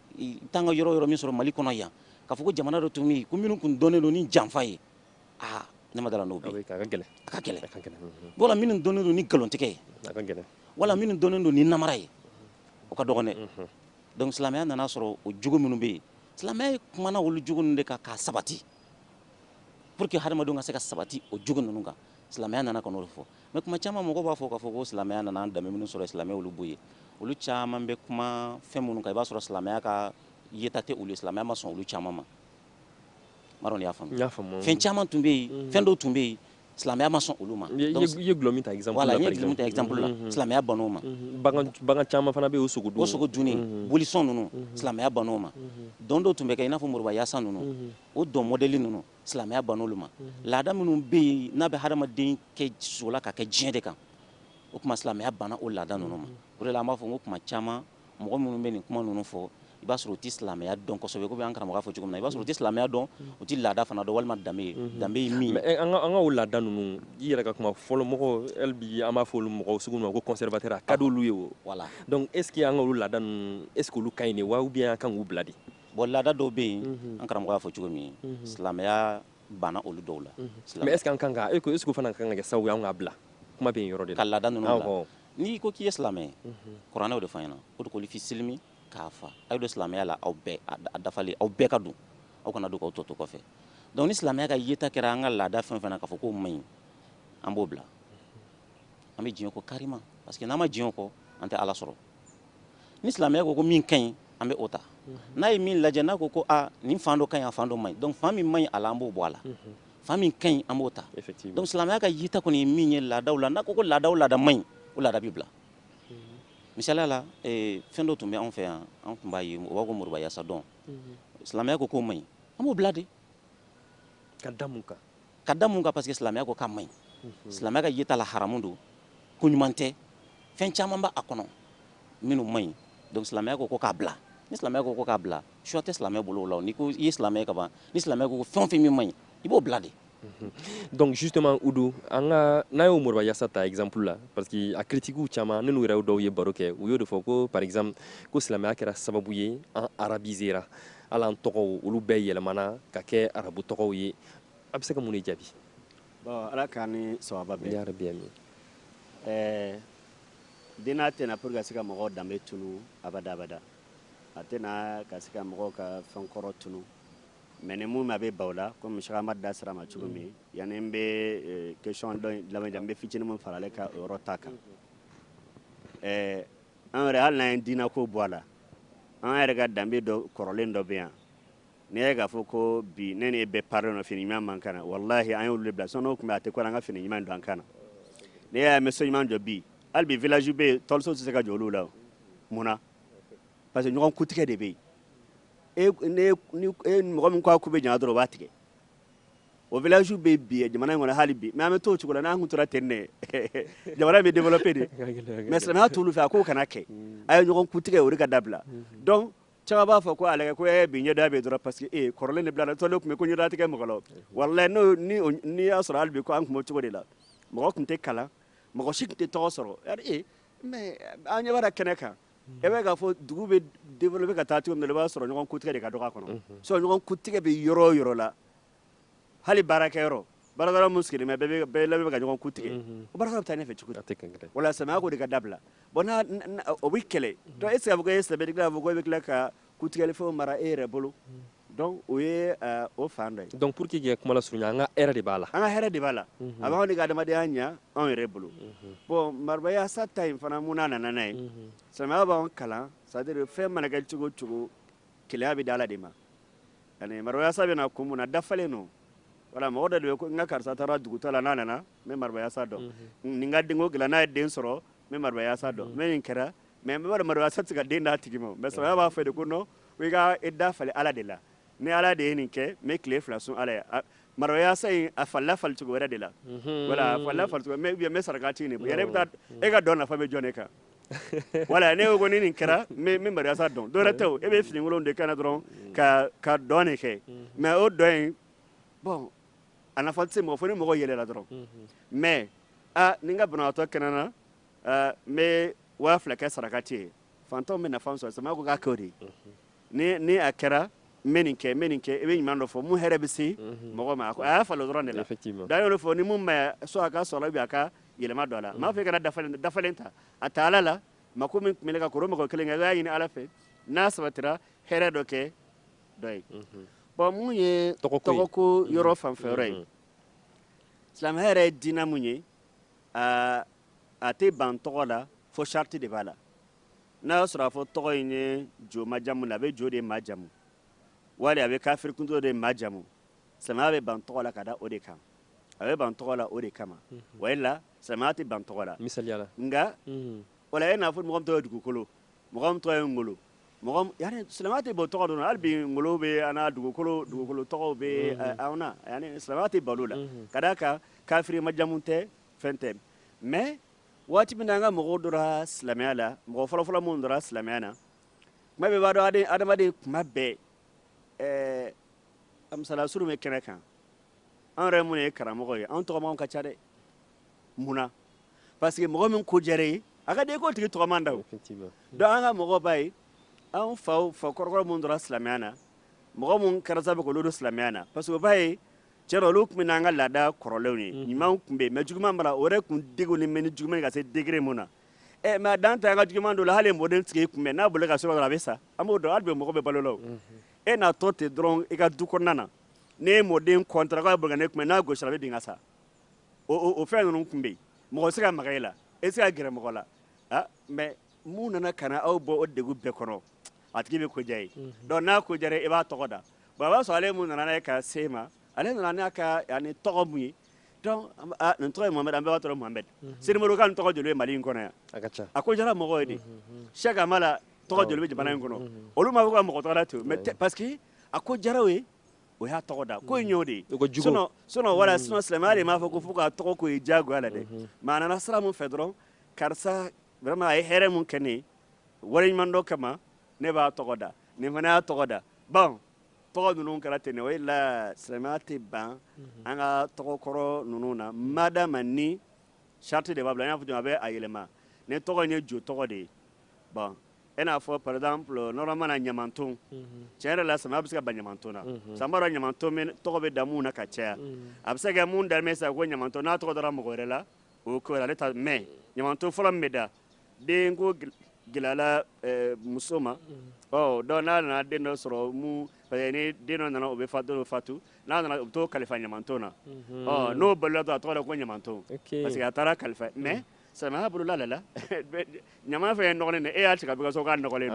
tan ka yɔrɔ yɔrɔ min sɔrɔ mali kɔnɔ yan k'a fɔ ko jamana dɔ tun min ko minnu tun dɔnnen don ni janfa ye aa ne ma da n'o bɛ ka gɛlɛn ka gɛlɛn ka gɛlɛn wala minnu dɔnnen don ni nkalontigɛ ye ka gɛlɛn wala minnu dɔnnen don ni namara ye o ka dɔgɔ donc silamɛya nana sɔrɔ o jogo minnu bɛ yen silamɛya ye kumana olu jogo de kan ka sabati pour que ha adamadenw ka se ka sabati o jogo ninnu kan silamɛya nana ka o fɔ Mais kuma caman mɔgɔ b'a fɔ k'a fɔ ko silamɛya nana laada minnu sɔrɔ silamɛya y'olu bɔ yen olu caman bɛ kuma fɛn minnu kan i b'a sɔrɔ silamɛya ka yeta tɛ olu ye silamɛya ma sɔn olu caman ma y'a fɛn caman tun bɛ yen fɛn dɔw tun bɛ yen silamɛya ma sɔn olu ma ye la silamɛya ban ma caman fana bɛ sogo don sogo dun boli ninnu silamɛya ban ma dɔn dɔw tun bɛ kɛ i n'a fɔ moribayasa ninnu o dɔn modɛli ninnu silamɛya banna olu ma laada minnu bɛ yen n'a bɛ hadamaden kɛ sola ka kɛ diɲɛ de kan o tuma silamɛya banna o laada ninnu ma o de la an b'a fɔ ko tuma caman mɔgɔ minnu bɛ nin kuma ninnu fɔ i b'a sɔrɔ u tɛ silamɛya dɔn kosɛbɛ ko an karamɔgɔ y'a fɔ cogo min na i b'a sɔrɔ u tɛ silamɛya dɔn u tɛ laada fana dɔn walima danbe ye mhm. danbe ye min ye an ka o laada ninnu i yɛrɛ ka kuma fɔlɔ mɔgɔ bi an b'a fɔ olu mɔgɔ sugu ma ko conservateur a ka d'olu ye o voilà donc est ce que an ka olu laada ninnu est ce que olu ka ɲi de wa ou bien an kan k'u bila de Bon laada dɔw bɛ yen an karamɔgɔ y'a fɔ cogo min silamɛya banna olu dɔw la silamɛ kan kan e ko isugu fana kan kɛ sa yan ka bila kuma bɛ yɔrɔ de ka laada ninnu n'i ko k'i ye silamɛ kuranɛ de b'a f'an ɲɛna uduhulu fi silimi kaafa aw don silamɛya la aw dafalen aw bɛɛ ka don aw kana don aw tɔ to kɔfɛ donc ni silamɛya ka yeta kɛra an ka laada fɛn fana k'a fɔ k'o man ɲi an b'o bila an bɛ diɲɛ ko kari parce que n'an ma diɲɛ kɔ an tɛ ala sɔrɔ ni silamɛya ko ko min ka ɲi an bɛ o ta n'a ye min lajɛ n'a ko ko a nin fan dɔ ka ɲi a fan dɔ man ɲi donc fan min man ɲi a la an b'o bɔ a la fan min ka ɲi an b'o ta donc silamɛya ka yeta kɔni ye min ye laadaw la n'a ko ko laada o laada man ɲi o laada bɛ bila misaliya la eh, fɛn dɔ tun bɛ anw fɛ yan an tun b'a fɔ o ma ko moriba yasa dɔn silamɛya ko k'o man ɲi an b'o bila de ka da mun kan ka da mun kan parce que silamɛya ko k'a man ɲi mhm. silamɛya ka yeta la haramu don ko ɲuman tɛ fɛn caman b'a kɔnɔ minnu man ɲi donc silamɛya ko ko k'a bila ni silamɛya ko ko k'a bila choix tɛ silamɛ bolo o la n'i ko i ye silamɛ ye ka ban ni silamɛya ko ko fɛn o fɛn min man ɲi i b'o bila de mhm. donc justement udu an ka n'an ye moriba yasa ta exemple la parce que a critiquew caman ne n'u yɛrɛ dɔw ye baro kɛ u y'o de fɔ ko par exemple ko silamɛya kɛra sababu ye an arabisera hali an tɔgɔw olu bɛɛ yɛlɛmana ka kɛ arabu tɔgɔw ye A bɛ se ka mun jaabi ala ka ni saba bɛ yɛrɛ bɛ min ɛɛ den n'a tɛna pour que se ka mɔgɔ danbe tunun abadabada a tɛna ka se ka mɔgɔ ka fɛn kɔrɔ tunun mais ni minnu a bɛ ban o la ko musokɔrɔba da sira ma cogo min yan n bɛ question dɔ n bɛ fitinin fara ale ka yɔrɔ ta kan ɛɛ an yɛrɛ hali n ye diinɛ ko bɔ a la an yɛrɛ ka danbe dɔ kɔrɔlen dɔ bɛ yan N'i y'a ye k'a fɔ ko bi ne n'e bɛɛ parilen don fini ɲuman b'an kan na walahi an y'olu de bila sinon n'o tun bɛ a tɛ ko la an ka fini ɲuman don an kan na n'i y'a ye an bɛ so ɲuman jɔ bi hali bi village bɛ yen tɔliso tɛ se ka jɔ olu la o mun na parce que ɲɔgɔn kutigɛ de bɛ yen e ne ni e mɔgɔ min ko a ku bɛ ɲa dɔrɔn o b'a tigɛ o village bɛ yen bi jamana in kɔnɔ hali bi mais an bɛ t'o cogo la n'an tun tora ten de jamana bɛ développer de mais silamɛya t'olu fɛ a k'o kana kɛ a ye ɲɔgɔn kutigɛ o de ka dabila donc Cɛ b'a fɔ ko ale ko e bi ɲɛda bɛ dɔrɔn parce que e kɔrɔlen de bilala tɔn tun bɛ ko ɲɛdatigɛ mɔgɔ wala n'o n'i y'a sɔrɔ hali bi ko an tun cogo de la mɔgɔ tun tɛ kalan mɔgɔ si tun tɛ tɔgɔ sɔrɔ an ɲɛ kɛnɛ kan i bɛ k'a fɔ dugu bɛ développer ka taa cogo min i b'a sɔrɔ ɲɔgɔn kutigɛ de ka dɔgɔ kɔnɔ so ɲɔgɔn kutigɛ bɛ yɔrɔ yɔrɔ la hali baarakɛ yɔrɔ baarakɛyɔrɔ mun sigilen bɛ bɛɛ bɛ labɛn ka ɲɔgɔn ku tigɛ mhm. o baarakɛyɔrɔ bɛ taa ɲɛfɛ cogo di wala silamɛya ko de ka dabila bon n'a o bɛ kɛlɛ mhm. donc est ce que a bɛ kɛ e sɛbɛli kɛ a fɔ ko e bɛ tila ka ku tigɛli fɛnw mara e yɛrɛ bolo mhm. donc o ye eh, o fan dɔ ye donc pour que kɛ kuma lasurunya an ka hɛrɛ de b'a la an ka hɛrɛ de b'a la a b'anw de ka adamadenya ɲa anw yɛrɛ bolo bon marabayasa ta in fana mun n'a nana n'a ye silamɛya b'anw kalan c'est à dire fɛn mana kɛ cogo o cogo Gɛlɛya bɛ di Ala de ma. Ani Marbayasa bɛ na kun mun na, dafalen don. Wala, mɔgɔ dɔ de bɛ ko n ka karisa taara dugutaa la, n'a nana, n bɛ Marbayasa dɔn. Mm -hmm. Ni n ka denko dilan, n'a ye den sɔrɔ, n bɛ Marbayasa dɔn. Mm -hmm. Ni nin kɛra, mais bɛɛ b'a dɔn Marbayasa tɛ se ka den d'a tigi ma. Mais silamɛya b'a fɔ de ko non ko i ka i da falen Ala de la. Ni Ala de ye nin kɛ, n bɛ tile fila sun Ala ye. A Marbayasa in, a falila fali cogo wɛrɛ de la. Mm -hmm. Wala, a falila fali cogo mais ou bien n bɛ saraka ci nin. Yɛrɛ i bɛ taa, e ka dɔn nafa bɛ jɔn de kan? wala ne ko ni nin kɛra n bɛ mariyasa dɔn dɔwɛrɛ tɛ e bɛ finikolon de kana dɔrɔn ka ka dɔn in kɛ mais o dɔn in bɔn a nafa tɛ se mɔgɔ fo ni mɔgɔ yɛlɛla dɔrɔn mais aa ni n ka banabagatɔ kɛnɛyara n bɛ waa fila kɛ sarakati ye fantanw bɛ nafa sɔrɔ silamɛya ko k'a kɛ o de ye ni a kɛra n bɛ nin kɛ n bɛ nin kɛ i bɛ ɲuman dɔ fɔ mun hɛrɛ bɛ se mɔgɔ ma a y'a fa dɔrɔn de la da yɔrɔ fɔ ni min ma so a ka so bɛ a ka yɛlɛma don a la n'a fɛ kɛra dafalen ta a taa ala la ma ko min tun bɛ ka kɔrɔ mɔgɔ kelen kɛ y'a ɲini ala fɛ n'a sabatira hɛrɛ dɔ kɛ dɔ ye bɔn mun ye tɔgɔ ko yɔrɔ fanfɛ yɔrɔ ye silamɛya yɛrɛ ye diinɛ mun ye a tɛ ban tɔgɔ la fo sarati de b'a la n'a y'a sɔrɔ a fɔ tɔgɔ in ye jo majamu a bɛ jo de majamu wali a bɛ kafirikuntɔ de majamu silamɛya bɛ ban tɔgɔ la ka da o de kan a bɛ ban tɔgɔ la o de kama mhm. wala silamɛya tɛ ban tɔgɔ la misala nka mhm. wala e n'a fɔ mɔgɔ tɔgɔ ye dugukolo mɔgɔ tɔgɔ ye ngolo silamɛ tɛ bɔ tɔgɔ don hali bi ngolo bɛ an dugukolo dugukolo tɔgɔ bɛ mhm. anw na silamɛya tɛ ban o la ka da a kan kafiri majamu tɛ fɛn tɛ mais waati min na an ka mɔgɔw donna silamɛya la mɔgɔ fɔlɔfɔlɔ minnu donna silamɛya na comme bɛɛ b'a dɔn adamaden kuma bɛɛ ɛɛ a misala surun bɛ kɛnɛ kan an yɛrɛ minnu ye karamɔgɔ ye an tɔgɔmanw ka ca dɛ mun na parce que mɔgɔ min ko diyara i ye a ka den k'o tigi tɔgɔman da o donc an ka mɔgɔ b'a ye an faw fa kɔrɔkɔrɔ minnu donna silamɛya na mɔgɔ minnu kɛra sababu k'olu don silamɛya na parce que o b'a ye cɛ dɔ olu tun an ka laada kɔrɔlenw ye mhm. ɲumanw tun bɛ mais juguman mara o yɛrɛ tun degu ni mɛ ni juguman ka se degré min na ɛ mais dan t'an ka juguman don la hali mɔden sigi tun bɛ n'a bolo ka so a bɛ sa an b'o dɔn hali bɛ mɔgɔ bɛ balo la mhm. e n'a tɔ ten dɔrɔn i ka du kɔnɔna na ne ye mɔden kɔntara k'a bɛ ne tun n'a gosi a bɛ bin ka sa o fɛn ninnu tun bɛ yen mɔgɔ se ka maga e la e se ka gɛrɛ mɔgɔ la ah, mais mun nana ka na aw bɔ o degun bɛɛ kɔnɔ a tigi bɛ ko diya i ye mhm. donc n'a ko diya i b'a tɔgɔ da baba sɔrɔ ale mun nana ka se ma ale nana n'a ka ani tɔgɔ mun ye nin tɔgɔ ye mamɛ an bɛɛ tɔgɔ mamɛ sirimokan kan tɔgɔ joli mali in kɔnɔ yan a ko jara mɔgɔ ye de sɛma la tɔgɔ joli bɛ jamana in kɔnɔ olu ma ka mɔgɔ tɔgɔ to mais parce que a ko jaraw ye o y'a tɔgɔ da ko ɲɔ de wala sun silamɛya de m'a fɔ ko fo k'a tɔgɔ ko ye jagoya la dɛ maa nana sira min fɛ dɔrɔn karisa a ye hɛrɛ min kɛ ne waleɲumandɔn kama ne b'a tɔgɔ da nin fana y'a tɔgɔ da baw tɔgɔ ninnu kɛra ten o la silamɛya tɛ ban mhm. an ka tɔgɔkɔrɔ ninnu na mada ma ni sariti de b'a bila n y'a fɔ a bɛ a yɛlɛma ne tɔgɔ in ye jo tɔgɔ de ye ban i n'a fɔ par exemple mana ɲamaton mhm. tiɲɛ yɛrɛ la silamɛya bɛ se ka ban ɲamaton na mhm. sabu ɲamaton tɔgɔ bɛ da minnu na ka caya a bɛ se kɛ mun na sa ko ɲamaton n'a tɔgɔ dara mɔgɔ wɛrɛ la o ko ale ta mais ɲamaton fɔlɔ min bɛ da denko gɛlɛyala muso ma donc n'a nana den dɔ sɔrɔ minnu ni den dɔ nana o bɛ fa dɔ fatu n'a nana u bɛ taa o kalifa ɲamanton na n'o bali a tɔgɔ da ko ɲamanton parce que a taara kalifa mais sami bolola lala ɲama fɛ ye nɔgɔɔgɔn e y'a tigɛ kaso ka nɔgɔlen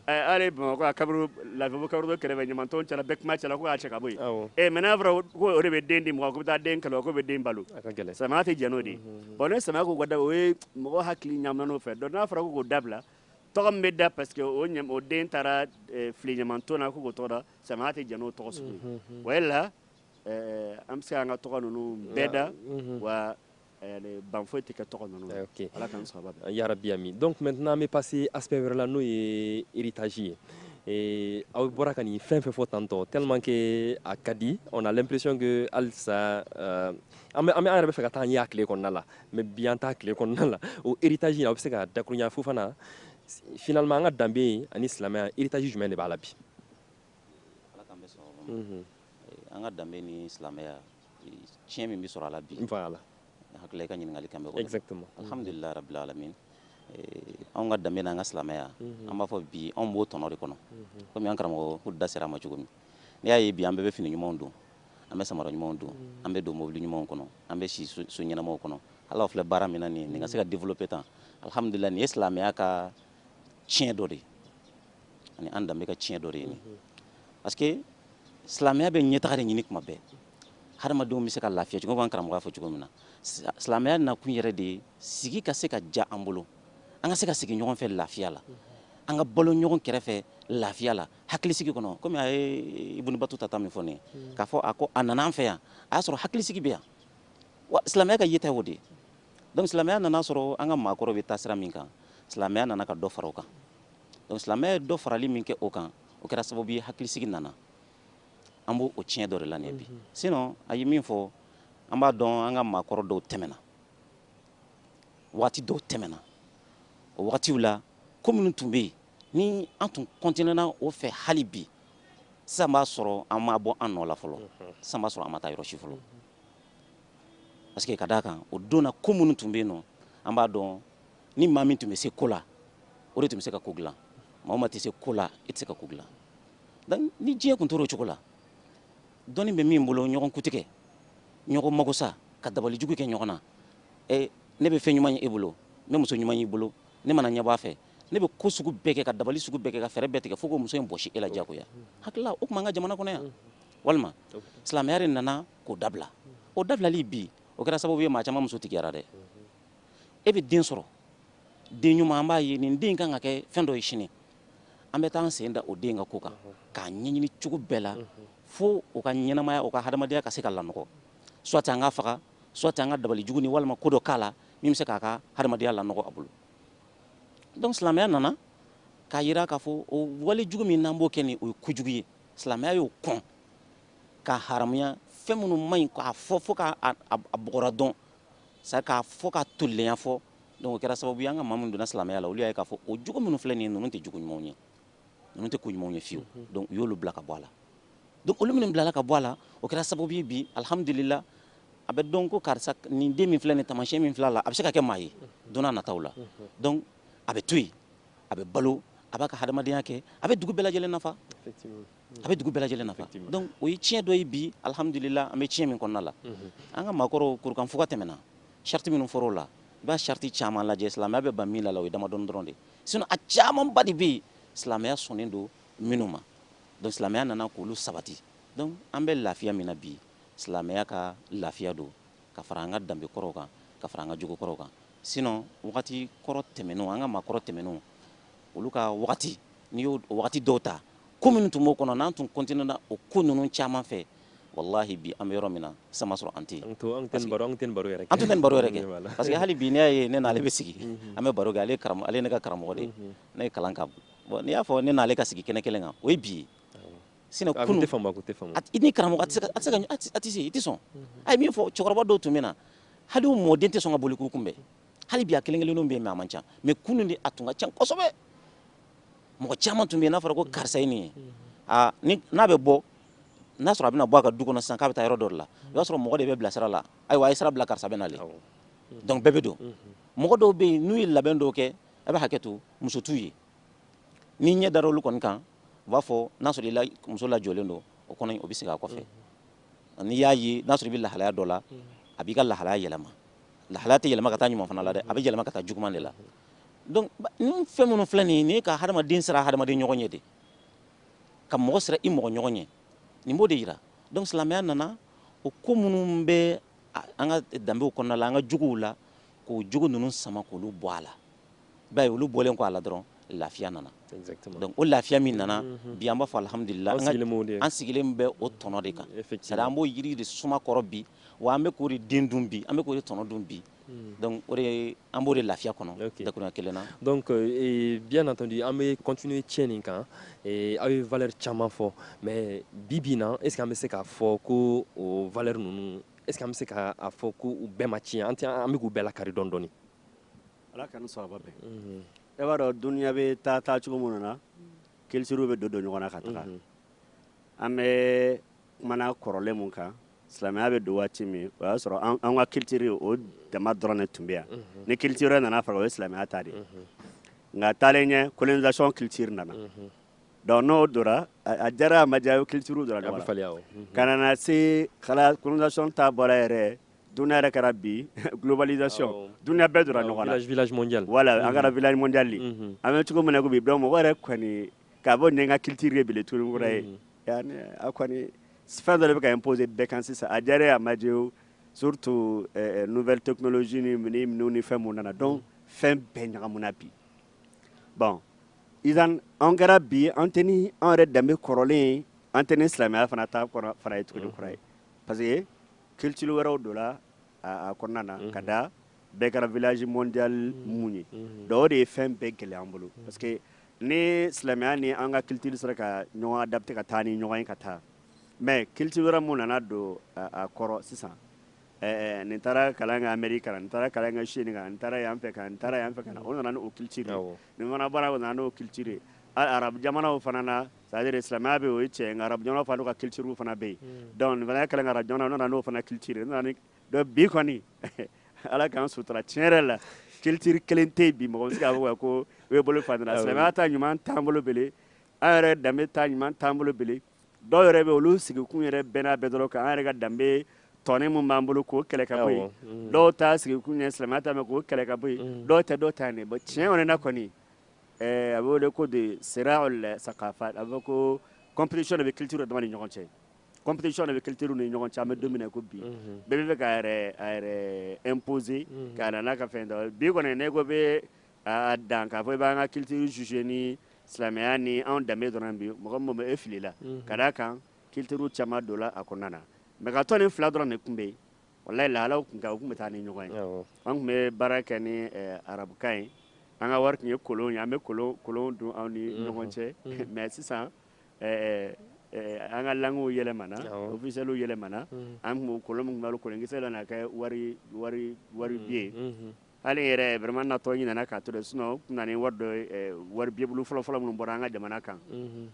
ala bamakɔ kaburu lafibu kaburu kɛlɛ ɲamanton cɛla bɛ kuma cɛla y'a cɛ ka bɔ ɛ mais n'a fɔra o de bɛ den di ma ko bɛ taa den kɛlɛ ko bɛ den balo silamɛya tɛ jɛn n'o de bon ni silamɛya ko ka da o mɔgɔ hakili ɲaamina o fɛ donc n'a fɔra ko k'o dabila tɔgɔ min bɛ da parce que o ɲam- o den taara eh, fili ɲamanton na ko k'o tɔgɔ da silamɛya tɛ jɛn n'o tɔgɔ sugu ye o de la eh, an bɛ se k'an ka tɔgɔ ninnu bɛɛ da wa eh, le- ban foyi tɛ kɛ tɔgɔ ninnu na. Ok. ala k'an sababu bɛn Ya Rabbi amin. Donc maintenant an bɛ passer aspect wɛrɛ la n'o ye héritage ye. Eh, aw bɔra ka nin fɛn fɛn fɔ tantôt tellement que a ka di on a l'impression que halisa euh, an bɛ an bɛ an yɛrɛ b'a fɛ ka taa an ye a tile kɔnɔna la mais bi an ta tile kɔnɔna la o héritage aw bɛ se ka dakurunya fɔ fana finalement an ka danbe yen ani silamɛya héritage jumɛn de b'a la bi mhm. an ka danbe ni silamɛya tiɲɛ min bɛ sɔrɔ a la bi la hakili i ka ɲininkali kan bɛhamdulila alhamdulillah rabbil alamin anw ka danbe n'an ka silamɛya mhm. an b'a fɔ bi anw b'o tɔnɔ de kɔnɔ mhm. komi an karamɔgɔ da sera a ma cogo min n'i y'a ye bi an bɛɛ bɛ fini ɲumanw don an bɛ samara ɲumanw don an bɛ don mobili ɲumanw kɔnɔ an bɛ si so ɲɛnamaw kɔnɔ ala filɛ baara min an ka se ka développer tan alihamdulila nin ye silamɛya ka tiɲɛ dɔ de ye ani an danbe ka tiɲɛ dɔ de ye parce que silamɛya bɛ ɲɛtaga de ɲini kuma bɛɛ hadamadenw bɛ se ka lafiya cogo an karamɔgɔ y'a fɔ cogo min na silamɛya nakun yɛrɛ de ye sigi ka se ka diya an bolo an ka se ka sigi ɲɔgɔn fɛ lafiya la an ka balo ɲɔgɔn kɛrɛfɛ lafiya la hakilisigi kɔnɔ komi a ye ibuni batuta ta min fɔ ne hmm. k'a fɔ a ko a nana an fɛ yan a y'a sɔrɔ hakilisigi bɛ yan wa silamɛya ka yeta o de ye donc silamɛya nana sɔrɔ an ka maakɔrɔ bɛ taasira min kan silamɛya nana ka dɔ fara o kan donc silamɛya ye dɔ farali min kɛ o kan o kɛra sababu ye hakilisigi nana an bɛ o tiɲɛ dɔ de la nin bi hmm. sinon a ye min fɔ an b'a dɔn an ka maakɔrɔ dɔw tɛmɛna waati dɔw tɛmɛna o wagatiw la ko minnu tun bɛ yen ni an tun kɔntinena o fɛ hali bi sisan b'a sɔrɔ an ma bɔ an nɔ la fɔlɔ sisan b'a sɔrɔ an ma taa yɔrɔ si fɔlɔ parce que ka d'a kan o don na ko minnu tun bɛ yen nɔ an b'a dɔn ni maa min tun bɛ se ko la o de tun bɛ se ka ko dilan maa min tɛ se ko la i tɛ se ka ko dilan ni diɲɛ tun tora o cogo la dɔnni bɛ min bolo ɲɔgɔn kuntigɛ ɲɔgɔn mago sa ka dabali jugu kɛ ɲɔgɔn na ne bɛ fɛn ɲuman ye e bolo ne bɛ muso ɲuman y'i bolo ne mana ɲɛ b'a fɛ ne bɛ ko sugu bɛɛ kɛ ka dabali sugu bɛɛ kɛ ka fɛɛrɛ bɛɛ tigɛ fo ka muso in bɔsi e la jagoya hakilila o tuma an ka jamana kɔnɔ yan walima silamɛya de nana k'o dabila o dabilali bi o kɛra sababu ye maa caman musotigiyara dɛ e bɛ den sɔrɔ den ɲuman an b'a ye nin den ka kan ka kɛ fɛn dɔ ye sini an bɛ taa sen da o den ka ko kan k'a ɲɛɲini cogo bɛɛ la fo o ka ɲɛnamaya o ka hadamadenya ka se ka lanɔgɔ soit an k'a faga soit an ka dabali jugu ni walima ko dɔ k'a la min bɛ se k'a ka hadamadenya lanɔgɔ a bolo donc silamɛya nana k'a jira k'a fɔ o wale jugu min n'an b'o kɛ nin o ye kojugu ye silamɛya y'o kɔn ka haramuya fɛn minnu man ɲi k'a fɔ fo k'a bɔgɔra dɔn sa k'a fɔ k'a tolilenya fɔ donc o kɛra sababu ye an ka maa minnu donna silamɛya la olu y'a ye k'a fɔ o jogo minnu filɛ nin ye ninnu tɛ jogo ɲumanw ye ninnu tɛ ko ɲumanw ye fiyewu mhm. donc u y'olu bila ka bɔ a la donc olu minnu bilala ka bɔ a la o kɛra sababu ye bi alihamudulila a bɛ dɔn ko karisa nin den min filɛ nin taamasiyɛn min filɛ a la a bɛ se ka kɛ maa ye mhm. don n'a nataw la mhm. donc a bɛ to yen a bɛ balo a b'a ka hadamadenya kɛ a bɛ dugu bɛɛ lajɛlen nafa a bɛ dugu bɛɛ lajɛlen nafa donc o ye tiɲɛ dɔ ye bi alihamudulila an bɛ tiɲɛ min kɔnɔna la an ka maakɔrɔw kurukanfuga tɛmɛna sariti minnu fɔra o la i b'a sariti caman lajɛ silamɛya bɛ ban min la la o ye damadɔni dɔrɔn de ye sinon a camanba de bɛ yen silamɛya sɔnnen don minnu ma donc silamɛya nana k'olu sabati donc an bɛ lafiya min na bi silamɛya ka lafiya don ka fara an ka danbe kɔrɔw kan ka fara an ka jogo kɔrɔw kan sinon wagati kɔrɔ tɛmɛnen an ka maa kɔrɔ tɛmɛnen olu ka wagati n'i y'o wagati dɔw ta ko minnu tun b'o kɔnɔ n'an tun kɔntinena o ko ninnu caman fɛ walahi bi an bɛ yɔrɔ min na sisan b'a sɔrɔ an tɛ yen an tɛ baro an tɛ baro yɛrɛ an tɛ baro yɛrɛ kɛ parce que hali bi ne ye ne n'ale bɛ sigi an bɛ baro kɛ ale ale ne ka karamɔgɔ de ne ye kalan ka bɔn n'i y'a fɔ ne n'ale ka sigi kɛnɛ kelen kan o ye bi sinon kunun tɛ fanba tɛ fan i ni karamɔgɔ a tɛ se i tɛ sɔn a ye min fɔ cɛkɔrɔba dɔw tun bɛ na hali mɔden tɛ sɔn ka boli k'u kunbɛn hali bi a kelen kelen bɛ mais a man ca mais kunun de a tun ka ca kosɛbɛ mɔgɔ caman tun bɛ n'a fɔra ko karisa in ye n'a bɛ bɔ n'a sɔrɔ a bɛna bɔ a ka du kɔnɔ san k'a bɛ taa yɔrɔ dɔ la o y'a sɔrɔ mɔgɔ de bɛ bila sira la ayiwa a ye sira bila karisa bɛ na donc bɛɛ bɛ don mɔgɔ dɔw bɛ yen n'u ye labɛn dɔw kɛ a bɛ hakɛ to muso ye ni ɲɛ da olu kɔni kan u b'a fɔ n'a sɔrɔ muso lajɔlen don o kɔnɔ o bɛ segin a kɔfɛ n'i y'a ye n'a sɔrɔ bɛ lahalaya dɔ la a b'i ka lahalaya yɛlɛma lahala tɛ yɛlɛma ka taa ɲuman fana la dɛ a bɛ yɛlɛma ka taa juguman de la donc ni fɛn minnu filɛ nin ye nin ye ka hadamaden siran hadamaden ɲɔgɔn ɲɛ de ka mɔgɔ siran i mɔgɔ ɲɔgɔn ɲɛ nin b'o de yira donc silamɛya nana o ko minnu bɛ an ka danbew kɔnɔna la an ka jogow la ko jugu ninnu sama k'olu bɔ a la i b'a ye olu bɔlen kɔ a la dɔrɔn lafiya nana donc o lafiya min nana mhm. bi an b'a fɔ alihamudulila an sigilen bɛ o tɔnɔ de kan sari an b'o yiri de suma kɔrɔ bi wa an bɛ k'o de den dun bi an bɛ k'o de tɔnɔ dun bi Hmm. donc o de an b'o de lafiya kɔnɔ dakuruɲa kelen na donc euh, bien entendu an bɛ continuer thème nin kan aw ye valeur caman fɔ mais bi bi na est ce que an bɛ se k'a fɔ ko o valeur ninnu est ce que an bɛ se k'a fɔ ko u bɛɛ ma tiɲɛ an tɛ an bɛ k'u bɛɛ lakari dɔɔni dɔɔni ala k'an sababu bɛn mhm. e b'a dɔn duniya bɛ taa taa cogo minnu na culturew bɛ don don ɲɔgɔn na ka taga mhm. an bɛ kuma na kɔrɔlen mun kan silamɛya bɛ don waati min o y'a sɔrɔ an ka culture o dama dɔrɔn de tun bɛ yan ni culture wɛrɛ nana fara o ye silamɛya ta de ye nka taalen ɲɛ colonisation culture nana donc n'o donna a diyara a ma diya i ye culture dɔrɔn ka na se colonisation ta bɔra yɛrɛ don yɛrɛ kɛra bi globalisation donc bɛɛ donna ɲɔgɔn na wala an kɛra village an bɛ cogo min na bi donc mɔgɔ yɛrɛ Ka bɔ n'an ka culture ye bele tuguni kura ye a kɔni fɛn dɔ bɛ ka imposé bɛɛ kan sisan a diyara i ye a ma diya o surtout nouvelle technologie minnu ni fɛn mun nana donc fɛn bɛɛ ɲagamina bi bon an kɛra bi an tɛ ni an yɛrɛ danbe kɔrɔlen an tɛ ni silamɛya fana ta fana ye tuguni kura ye parce que culture wɛrɛw donna kɔnɔna na ka da bɛɛ kɛra village mondial mun ye donc o de ye fɛn bɛɛ gɛlɛya an bolo parce que ni silamɛya ni an ka culture sera ka ɲɔgɔn adapter ka taa ni ɲɔgɔn ye ka taa mais culture wɛrɛ mun nana don a kɔrɔ sisan nin taara kalan kɛ Amérique ka na nin taara kalan kɛ Chine ka na nin taara yan fɛ ka na nin taara yan fɛ ka na o nana n'o culture ye nin fana bɔra yan o nana n'o culture ye arabu jamanaw fana na c'est-à-dire silamɛya bɛ o ye tiɲɛ nka arabujɔn fa ka culture fana bɛ yen hmm. donc fana kɛlɛ ara jɔn nana n'o fana culture bi kɔni ala k'an sutura tiɲɛ yɛrɛ la culture kelen tɛ bi mɔgɔ si ko u ye bolo fa silamɛya ta ɲuman t'an bolo bele an yɛrɛ danbe ta ɲuman t'an bolo bele dɔw yɛrɛ bɛ olu sigikun yɛrɛ bɛnna bɛɛ dɔrɔn kan an yɛrɛ ka danbe tɔnin min b'an bolo k'o kɛlɛ ka bɔ yen hmm. dɔw ta sigikun ye silamɛya ta k'o kɛlɛ ka bɔ yen hmm. dɔw tɛ dɔw ta nin tiɲɛ yɛrɛ na kɔni a bɛ wele ko de siraal sakafat a b'a fɔ ko compétition de bɛ culture dama ni ɲɔgɔn cɛ compétition de bɛ culture ni ɲɔgɔn cɛ an b'a dɔn ko bi bɛɛ bɛ ka imposer ka n'a ka fɛn dɔ bi kɔni n'e ko i bɛ dan k'a fɔ i b'an ka culture juger ni silamɛya ni anw danbe dɔrɔn bi mɔgɔ ma e filila ka d'a kan culture caman donna a kɔnɔna mais ka to nin fila dɔrɔn de tun bɛ yen Walayi lahalaw tun tɛ, u tun bɛ taa ni ɲɔgɔn ye, awɔ, an tun bɛ baara kɛ ni arabukan ye, an ka wari tun ye kolon ye, an bɛ kolon dun an ni ɲɔgɔn cɛ, unhun, mais sisan an ka langues yɛlɛmana, awɔ, officiels yɛlɛmana, unhun, an tun bɛ kolon min dun kolonkisɛ nana kɛ wari bilen ye, unhun, hali n yɛrɛ vraiment n natɔ n ɲinɛna k'a to ten sinon n tun bɛna ni wari dɔ ye wari billet bulu fɔlɔ-fɔlɔ minnu bɔra an ka jamana kan, unhun,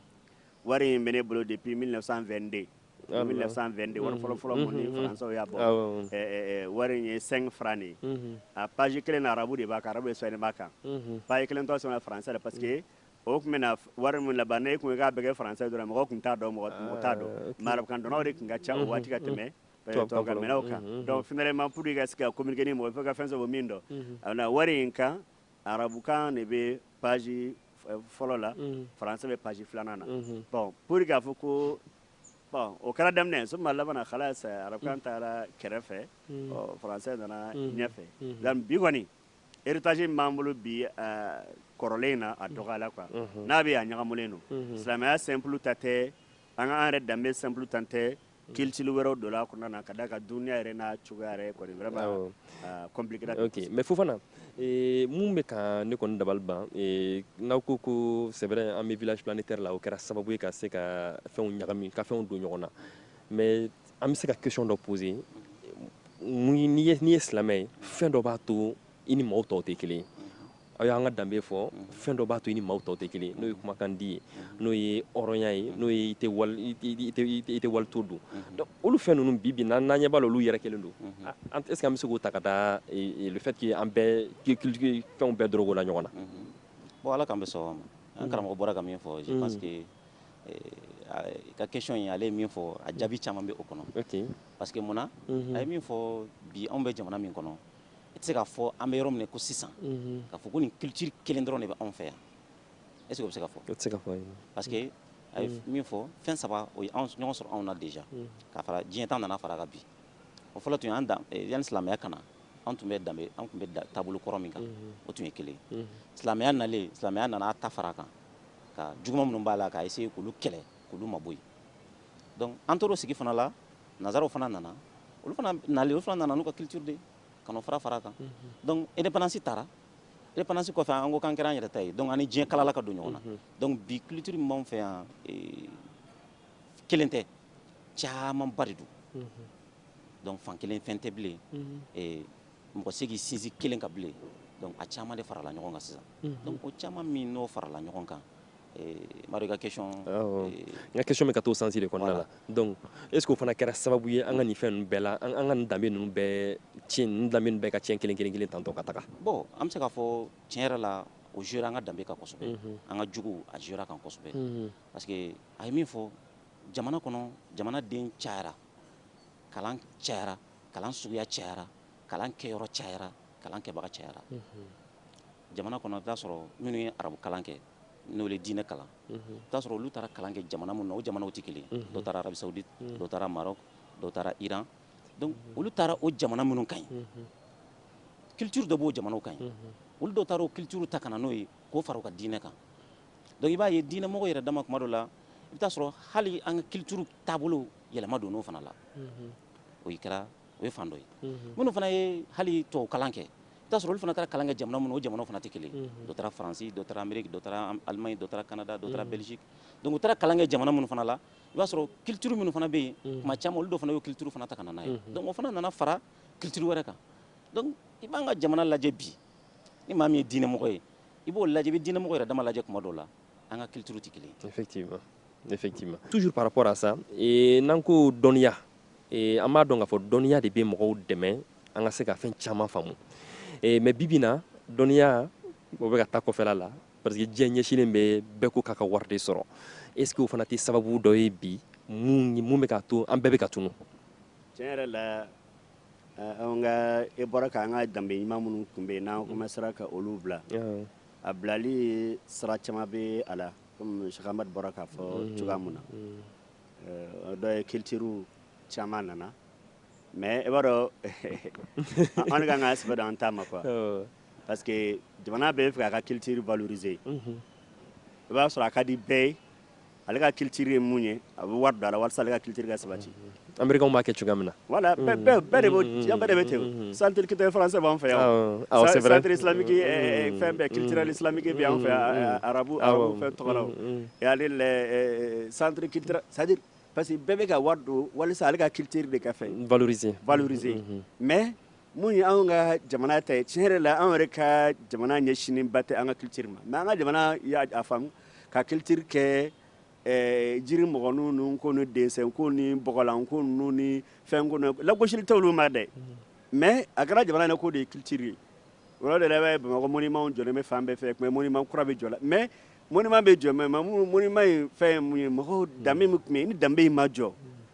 wari in bɛ ne bolo depuis 1922 1922 wari fɔlɔ fɔlɔ min ni françaisw y'a bɔ wari in ye 5 francs de ye a page kelen na arabu de b'a kan arabu sɛbɛnni b'a kan page kelen tɔ sɛbɛn français la parce que o tun bɛna wari min labɛn n'e tun k'a bɛɛ kɛ français dɔrɔn mɔgɔ tun t'a dɔn mɔgɔ t'a dɔn mais arabukan dɔnnaw de tun ka ca o waati ka tɛmɛ tubabukan mɛnnaw kan donc finalement pour que i ka se ka communiquer ni mɔgɔ ye fo i ka fɛn sɔrɔ min dɔn a na wari in kan Arabukan de bɛ page fɔlɔ la, unhun, français bɛ page filanan na, unhun, bon pour que k'a fɔ ko bon o kɛra daminɛ summa labanna khalas arabukan taara kɛrɛfɛ, unhun, ɔ français nana ɲɛfɛ, unhun, donc bi kɔni héritage min b'an bolo bi aa kɔrɔlen in na a dɔgɔyala quoi, unhun, n'a bɛ yen a ɲagamulen don, unhun, silamɛya simple ta tɛ, an ka an yɛrɛ danbe simple ta tɛ Culture wɛrɛ donna a kɔnɔna na ka d'a kan dun yɛrɛ n naa cogoya yɛrɛ kɔni kɛ mais fo fana min bɛ ka ne kɔni dabali ban n'aw ko ko c'est vrai an bɛ village planétaire la o kɛra sababu ye ka se ka fɛnw ɲagami ka fɛnw don ɲɔgɔn na mais an bɛ se ka question dɔ poser n'i ye silamɛ ye fɛn dɔ b'a to i ni maaw tɔw tɛ kelen aw y'an ka danbe fɔ fɛn dɔ b'a to i ni maaw tɔw tɛ kelen n'o ye kumakan di ye n'o ye hɔrɔnya ye n'o ye i tɛ wali ta dun olu fɛn ninnu bi bi n'an ɲɛ b'a la olu yɛrɛ kelen don an tɛ se an bɛ se k'o ta ka taa le fait que an bɛɛ culture fɛnw bɛɛ dɔrɔgɔla ɲɔgɔn na bon ala k'an bɛ sɔn ma an karamɔgɔ bɔra ka min fɔ parce que i ka question ye ale min fɔ a jaabi caman bɛ o kɔnɔ parce que mun a ye min fɔ bi anw bɛ jamana min kɔnɔ I tɛ se k'a fɔ an bɛ yɔrɔ min na ko sisan ka fɔ ko nin culture kelen dɔrɔn de bɛ anw fɛ yan est-ce o bɛ se ka fɔ se ka fɔ parce que a ye min fɔ fɛn saba ye ɲɔgɔn sɔrɔ anw na déjà ka fara diɲɛ ta nana fara a kan bi o fɔlɔ tun ye yanni silamɛya ka na anw tun bɛ danbe anw tun bɛ taabolo kɔrɔ min kan o tun ye kelen silamɛya nalen silamɛya nana a ta fara a kan ka juguman minnu b'a la k'a se k'olu kɛlɛ kulu ma bɔ yen donc an tor'o sigi fana la nazaraw fana nana olu fana nali olu fana nana n'u ka culture de ka n'o fara fara a kan donc indépendance tara indépendance kɔfɛ an ko k'an kɛra an yɛrɛ ta ye donc an ni diɲɛ kalala ka don ɲɔgɔn na donc bi culture min b'anw fɛ yan kelen tɛ camanba de don donc fan kelen fɛn tɛ bilen mɔgɔ tɛ se k'i sinsin kelen kan bilen donc a caman de farala ɲɔgɔn kan sisan mhm. donc o caman min n'o farala ɲɔgɔn kan eh, mari ka question eh, n ka question bɛ ka t'o sens de kɔnɔna la donc est ce que o fana kɛra sababu ye an ka nin fɛn ninnu bɛɛ la an ka nin danbe ninnu bɛɛ tiɲɛ nin danbe ninnu bɛɛ ka tiɲɛ kelen kelen kelen tantɔ ka taga bon an bɛ se k'a fɔ tiɲɛ yɛrɛ la o jouera an ka danbe kan kosɛbɛ mhm. an ka jogo a jouera a kan kosɛbɛ mhm. parce que a ye min fɔ jamana kɔnɔ jamanaden cayara kalan cayara kalan suguya cayara kalan kɛyɔrɔ cayara kalan kɛbaga cayara jamana kɔnɔ t'a sɔrɔ minnu ye arabu kalan kɛ n'o ye diinɛ kalan t'a sɔrɔ olu taara kalan kɛ jamana min na o jamanaw tɛ kelen dɔ taara arabisawudi dɔ taara marɔku dɔ taara iran olu taara o jamana minnu kan yen culture dɔ b'o jamanaw kan yen olu dɔ taara o culture ta ka na n'o ye k'o fara u ka diinɛ kan donc i b'a ye diinɛmɔgɔ yɛrɛ dama kuma dɔ la i bɛ t'a sɔrɔ hali an ka culture taabolo yɛlɛma donn'o fana la o ye kɛra o ye fan dɔ ye minnu fana ye hali tɔw kalan kɛ i b'a sɔrɔ olu fana taara kalan kɛ jamana minnu o jamana fana tɛ kelen dɔ taara faransi dɔ taara ameriki dɔ alimaɲi dɔ taara kanada dɔ bɛliziki donc u taara kalan kɛ jamana minnu fana la i b'a sɔrɔ culture minnu fana bɛ yen kuma ca olu dɔ fana ye culture fana ta ka na n'o ye donc o fana nana fara culture wɛrɛ kan i b'an ka jamana lajɛ bi ni maa min ye diinɛmɔgɔ ye i b'o lajɛ bɛ diinɛmɔgɔ yɛrɛ dama lajɛ kuma dɔw la an ka culture tɛ kelen ye effectivement effectivement toujours par rapport à ça et n'an ko dɔnniya et an b'a dɔn k'a fɔ dɔnniya de bɛ mɔgɔw dɛmɛ an ka se ka fɛn caman faamu et mais bibi na dɔnniya o bɛ ka taa kɔfɛla la parce que diɲɛ ɲɛsinnen bɛ bɛɛ ko k'a ka wari de sɔrɔ est ce que o fana tɛ sababu dɔ ye bi mun mun bɛ k'a to an bɛɛ bɛ ka tunun tiɲɛ yɛrɛ la an ka e bɔra k'an ka danbe ɲuman minnu tun bɛ yen n'an commencera ka olu bila A bilali sira caman bɛ a la comme Sɛki Amadu bɔra k'a fɔ cogoya min na, unhun, dɔ ye cultures caman nana mais i b'a dɔn an de ka kan k'an sɛbɛ don an ta ma quoi, awɔ, parce que jamana bɛɛ b'a fɛ k'a ka culture valoriser unhun, i b'a sɔrɔ a ka di bɛɛ ye ale ka culture ye mun ye a bɛ wari don a la walasa ale ka culture ka sabati Américains b'a kɛ cogoya min na voilà bɛɛ bɛɛ bɛɛ de b'o diɲɛ bɛɛ de bɛ ten o centre culturel français b'an fɛ yan o awɔ c'est vrai centre islamique eh, eh, fɛn bɛɛ culturel islamique bɛ an fɛ yan eh, arabu arabu fɛn tɔgɔ la o ani le eh, centre culturel c'est à dire parce que bɛɛ bɛ ka wari don walasa ale ka culture de ka fɛn valoriser valoriser mais Mun ye anw ka jamana ta ye tiɲɛ yɛrɛ la anw yɛrɛ ka jamana ɲɛsinnen ba tɛ an ka culture ma mais an ka jamana y'a a faamu ka culture kɛ ɛɛ jiri mɔgɔninw ni ko ni dessin ko ni bɔgɔlan ko ninnu ni fɛn ko ninnu lagosili tɛ olu ma dɛ mais a kɛra jamana yɛrɛ k'o de ye culture ye o yɔrɔ de la i b'a ye Bamakɔ monument jɔlen bɛ fan bɛɛ fɛ tuma monument kura bɛ jɔ la mais monument bɛ jɔ mais mamu monument in fɛn ye mun ye mɔgɔw danbe min tun bɛ yen ni danbe in ma jɔ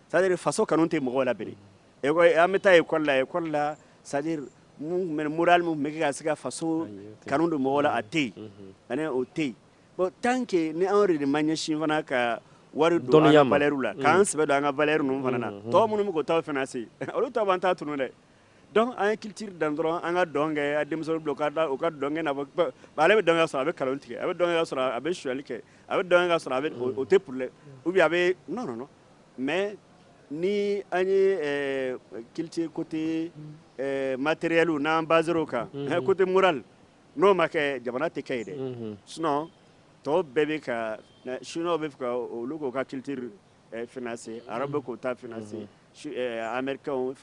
c'est à dire faso kanu tɛ mɔgɔw la bilen An bɛ taa école la école la c'est à dire morale min bɛ ka se ka faso kanu don mɔgɔ la a tɛ yen ani o tɛ yen tant que ni anw yɛrɛ de ma ɲɛ sin fana ka wari dɔnniya mali la k'an sɛbɛ don an ka valeur ninnu fana na tɔw minnu bɛ taa financer olu ta an taa tun dɛ donc an ye culture dan dɔrɔn an ka dɔn kɛ denmisɛn don ka da u ka dɔn na ale bɛ dɔn sɔrɔ a bɛ nkalon tigɛ a bɛ dɔn sɔrɔ a bɛ sonyali kɛ a bɛ dɔn sɔrɔ a o tɛ problème a bɛ nɔɔnɔ Mais ni an ye culture côté matériel n'an baser o kan côté moral n'o ma kɛ jamana tɛ kɛ yen dɛ sinon tɔw bɛɛ bɛ ka chinois b'a fɛ olu k'u ka culture financer arabe k'u ta financer américain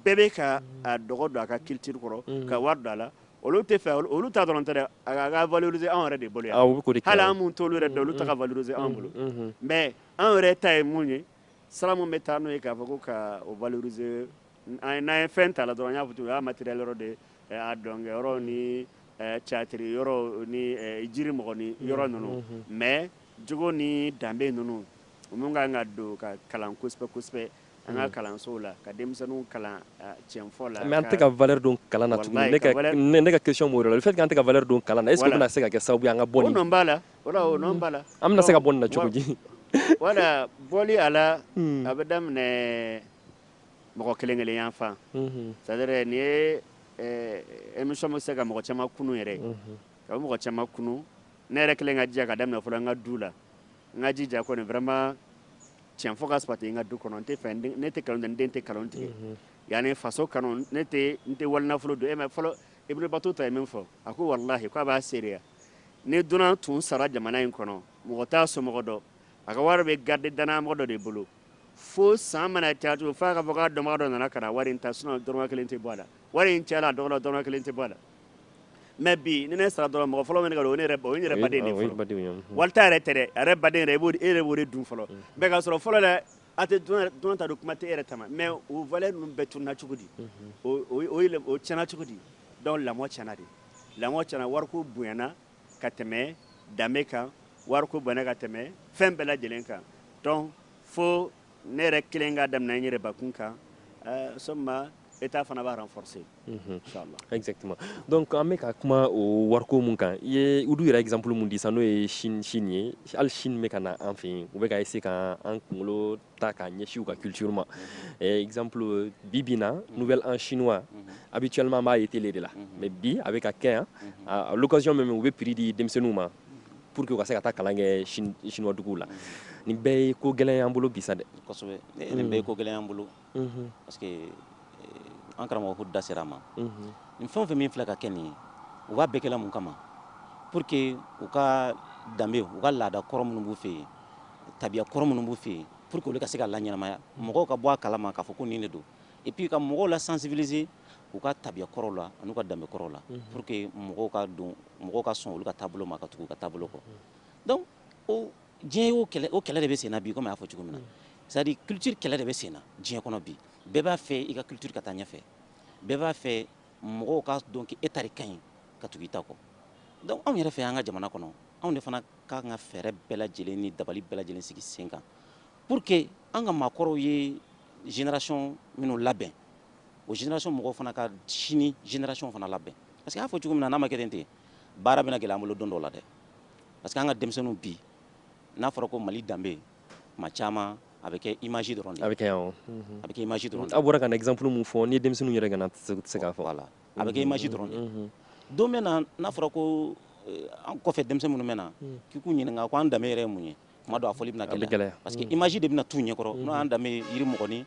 bɛɛ bɛ ka dɔgɔ don a ka culture kɔrɔ ka wari don a la olu tɛ fɛ olu ta dɔrɔn tɛ a ka valoriser anw yɛrɛ de bolo to yɛrɛ don olu ta valoriser anw bolo mais an yɛrɛ ta ye mun ye sira min bɛ taa n'o ye k'a fɔ ko ka o valoriser an n'an ye fɛn ta la dɔrɔn an y'a fɔ cogo min o y'a matériel yɔrɔ de ye a dɔnkɛ yɔrɔ ni théâtre yɔrɔ ni jiri mɔgɔnin yɔrɔ ninnu mais jogo ni danbe ninnu minnu ka kan ka don ka kalan kosɛbɛ kosɛbɛ an ka kalansow la ka denmisɛnninw kalan cɛnfɔ la mais an tɛ ka valeur don kalan na tuguni ne ka question b'o yɔrɔ la le fait que an tɛ ka valeur don kalan na est ce que o bɛna se ka kɛ sababu ye an ka bɔ nin an bɛna se ka bɔ na cogo di wala bɔ a la a bɛ daminɛ mɔgɔ kelen kelen yan fan sa nin ye émission bɛ se ka mɔgɔ caman kun yɛrɛ ka mɔgɔ caman kun ne yɛrɛ kelen ka jɛ ka daminɛ fɔlɔ n ka du la n ka jija kɔni vraiment cɛn fɔ ka sabati n ka du kɔnɔ tɛ ne tɛ nkalon den tɛ nkalon tigɛ yan ne faso kanu ne n tɛ wali nafolo dun e fɔlɔ Ibn Battuta ye min fɔ a ko walahi k'a b'a seereya Ni dunan tun sara jamana in kɔnɔ, mɔgɔ t'a somɔgɔ dɔn. A ka wari bɛ garde dannayamɔgɔ dɔ de bolo. Fo san mana caya tugun, f'a ka fɔ k'a dɔnbaga dɔ nana ka na wari in ta, sinon dɔrɔmɛ kelen tɛ bɔ a la. Wari in cayala a dɔgɔyala o, dɔrɔmɛ kelen tɛ bɔ a la. Mais bi, ni ne sara dɔrɔn, mɔgɔ fɔlɔ min bɛ ne ta dun, o ye ne yɛrɛ ba ye, o ye n yɛrɛ baden de ye fɔlɔ. Wali ta yɛrɛ tɛ dɛ, a yɛrɛ baden yɛrɛ, e yɛrɛ b'o de dun fɔlɔ. Mais k'a sɔrɔ fɔlɔ la, a tɛ dunan yɛrɛ, dunan ta dun, kuma tɛ e yɛrɛ ta ma. Mais o valeur ninnu bɛɛ tununa cogo di? O o o tiɲɛna cogo di? Donc lamɔ tiɲɛna de lamɔ tiɲɛna wariko bonyana ka tɛmɛ danbe kan wariko bonyana ka tɛmɛ fɛn bɛɛ lajɛlen kan donc fo ne yɛrɛ kelen ka daminɛ n yɛrɛ bakun kan so État fana b'a renforcer donc an bɛ ka kuma o wariko min kan i ye olu yɛrɛ exemple min di sisan n'o ye Chine ye hali Chine bɛ ka na an fɛ yen u bɛ ka se ka an kunkolo ta k'a ɲɛsin u ka culture ma eh, exemple bi bi na nouvel an chinois habituellement an b'a ye télé de la mais bi a bɛ ka kɛ yan à l'occasion même u bɛ prix di denmisɛnninw ma pour que u ka se ka taa kalan kɛ chinois duguw la nin bɛɛ ye ko gɛlɛn y'an bolo bi sa dɛ kosɛbɛ nin bɛɛ ye ko gɛlɛn y'an bolo parce que an karamɔgɔ ko da sera a ma nin fɛn fɛn min filɛ ka kɛ nin ye u b'a bɛɛ kɛ la mun kama pour que u ka danbe u ka laada kɔrɔ minnu b'u fɛ yen tabiya kɔrɔ minnu b'u fɛ yen pour que olu ka se ka laɲɛnamaya mɔgɔw ka bɔ a kalama k'a fɔ ko nin de don et puis ka mɔgɔw la sensibiliser u ka tabiya kɔrɔw la an'u ka danbe kɔrɔw la pour que mɔgɔw ka don mɔgɔw ka sɔn olu ka taabolo ma ka tugu u ka taabolo kɔ donc o diɲɛ y'o kɛlɛ o kɛlɛ de bɛ sen na bi komi a y'a fɔ cogo min na c'est à dire culture kɛlɛ de bɛ sen na diɲɛ kɔnɔ bi bɛɛ b'a fɛ i ka culture ka taa ɲɛfɛ bɛɛ b'a fɛ mɔgɔw ka dɔn k'e ta de ka ɲi ka tugu i ta kɔ donc anw yɛrɛ fɛ yan an ka jamana kɔnɔ anw de fana ka kan ka fɛɛrɛ bɛɛ lajɛlen ni dabali bɛɛ lajɛlen sigi sen kan pour que an ka maakɔrɔw ye génération minnu labɛn o génération mɔgɔw fana ka sini génération fana labɛn parce que a y'a fɔ cogo min na n'a ma kɛ ten ten baara bɛna gɛlɛya an bolo don dɔ la dɛ parce que an ka denmisɛnninw bi n'a fɔra ko Mali danbe maa caman a bɛ kɛ image dɔrɔn de ye, a bɛ kɛ awɔ, a bɛ kɛ image dɔrɔn de ye, aw bɔra ka na exemple min fɔ n'i ye denmisɛnninw yɛrɛ ɲininka u tɛ se k'a fɔ, voilà a bɛ kɛ image dɔrɔn de ye, unhun, don bɛ na n'a fɔra ko an kɔfɛ denmisɛn minnu bɛ na k'i k'u ɲininka ko an danbe yɛrɛ ye mun ye tuma dɔ a fɔli bɛna gɛlɛya parce que image de bɛna t'u ɲɛkɔrɔ n'o y'an danbe ye yirimɔgɔnin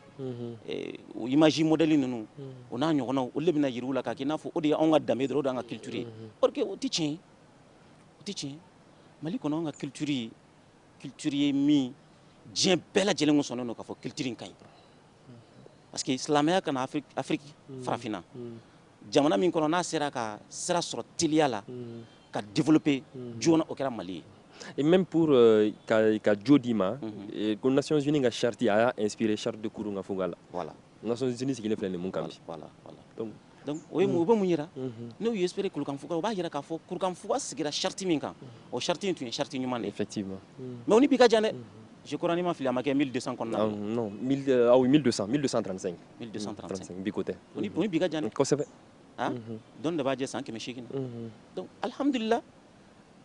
o image modèle ninnu o n'a ɲɔgɔnnaw olu de bɛna yira u la k'a kɛ i n'a fɔ o de ye anw ka danbe dɔrɔn o de y'an ka culture ye or que o tɛ tiɲɛ ye o tɛ tiɲɛ ye Mali kɔnɔ anw ka culture culture ye min diɲɛ bɛɛ lajɛlen ko sɔnnen don k'a fɔ culture in ka ɲi parce que silamɛya ka na afiriki afiriki mm. farafinna mm. jamana min kɔnɔ n'a sera ka sira sɔrɔ teliya la mm. ka développer joona o kɛra Mali ye et même pour euh, ka ka jo d'i ma mm-hmm. ko nations unies ka charte a y'a inspiré charte de Kurukanfuga la voilà nations unies sigilen filɛ nin min kan bi voilà voilà donc Donc o ye mun o bɛ mun yira n'u ye inspiré kurukanfuga o b'a yira k'a fɔ kurukanfuga sigira charte min kan o charte in tun ye charte ɲuman de ye effectivement mais o ni bi ka jan dɛ je crois ni n ma fili a ma kɛ 1200 kɔnɔna na non 1200 1235 1235 bi ko tɛ o ni bi ka jan dɛ kosɛbɛ dɔɔnin de b'a jɛ san kɛmɛ seegin na donc alhamdulila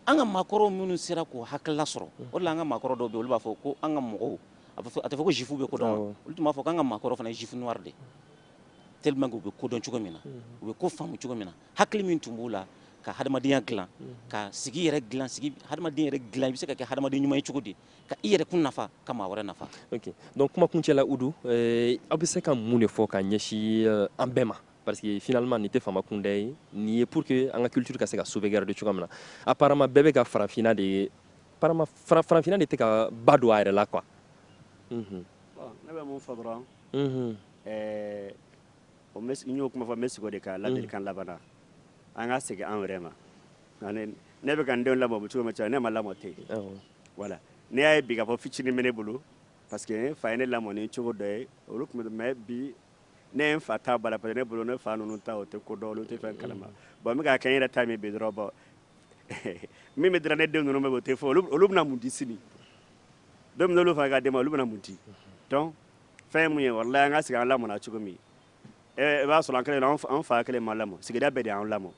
an ka maakɔrɔw minnu sera k'o hakilila sɔrɔ o de la an ka maakɔrɔ dɔw bɛ olu b'a fɔ ko an ka mɔgɔw a tɛ fɔ ko juif bɛ ko dɔn olu tun b'a fɔ k'an ka maakɔrɔ fana ye juif noir de ye tellement que u bɛ ko dɔn cogo min na u bɛ ko faamu cogo min na hakili min tun b'u la ka hadamadenya dilan ka sigi yɛrɛ dilan sigi hadamadenya yɛrɛ dilan i bɛ se ka kɛ hadamaden ɲuman ye cogo di ka i yɛrɛkun nafa ka maa wɛrɛ nafa ok donc kuma kuncɛ la udu eh, aw bɛ se ka mun de fɔ ka ɲɛsin eh, an bɛɛ ma parce que finalement nin tɛ faama kunda ye nin ye pour que an ka culture ka se ka sauvegarder cogoya min na apparemment bɛɛ bɛ ka farafinna de ye apparemment farafinna de tɛ ka ba don a yɛrɛ la quoi ne bɛ min fɔ dɔrɔn Ɛɛ o n y'o kuma fɔ n bɛ segin de kan ladilikan laban na an ka segin an yɛrɛ ma ne bɛ ka n denw lamɔ cogo min cɛ ne ma lamɔ ten wala ne y'a ye bi ka fɔ fitinin minɛ ne bolo parce que ne fa ye ne lamɔ ni cogo dɔ ye olu tun bɛ bi ne ye n fa ta bila pa ne bolo ne fa ninnu ta o tɛ ko dɔn olu tɛ fɛn kalama bon n b'a kɛ n yɛrɛ ta min bi dɔrɔn min bɛ dɔrɔn ne den ninnu bɛ o tɛ fɔ olu bɛna mun di sini don fana ka di ma olu bɛna mun di dɔn fɛn mun ye walahi an ka segin an lamɔna cogo min i b'a sɔrɔ an kelen an fa kelen m'an lamɔ sigida bɛɛ de y'an lamɔ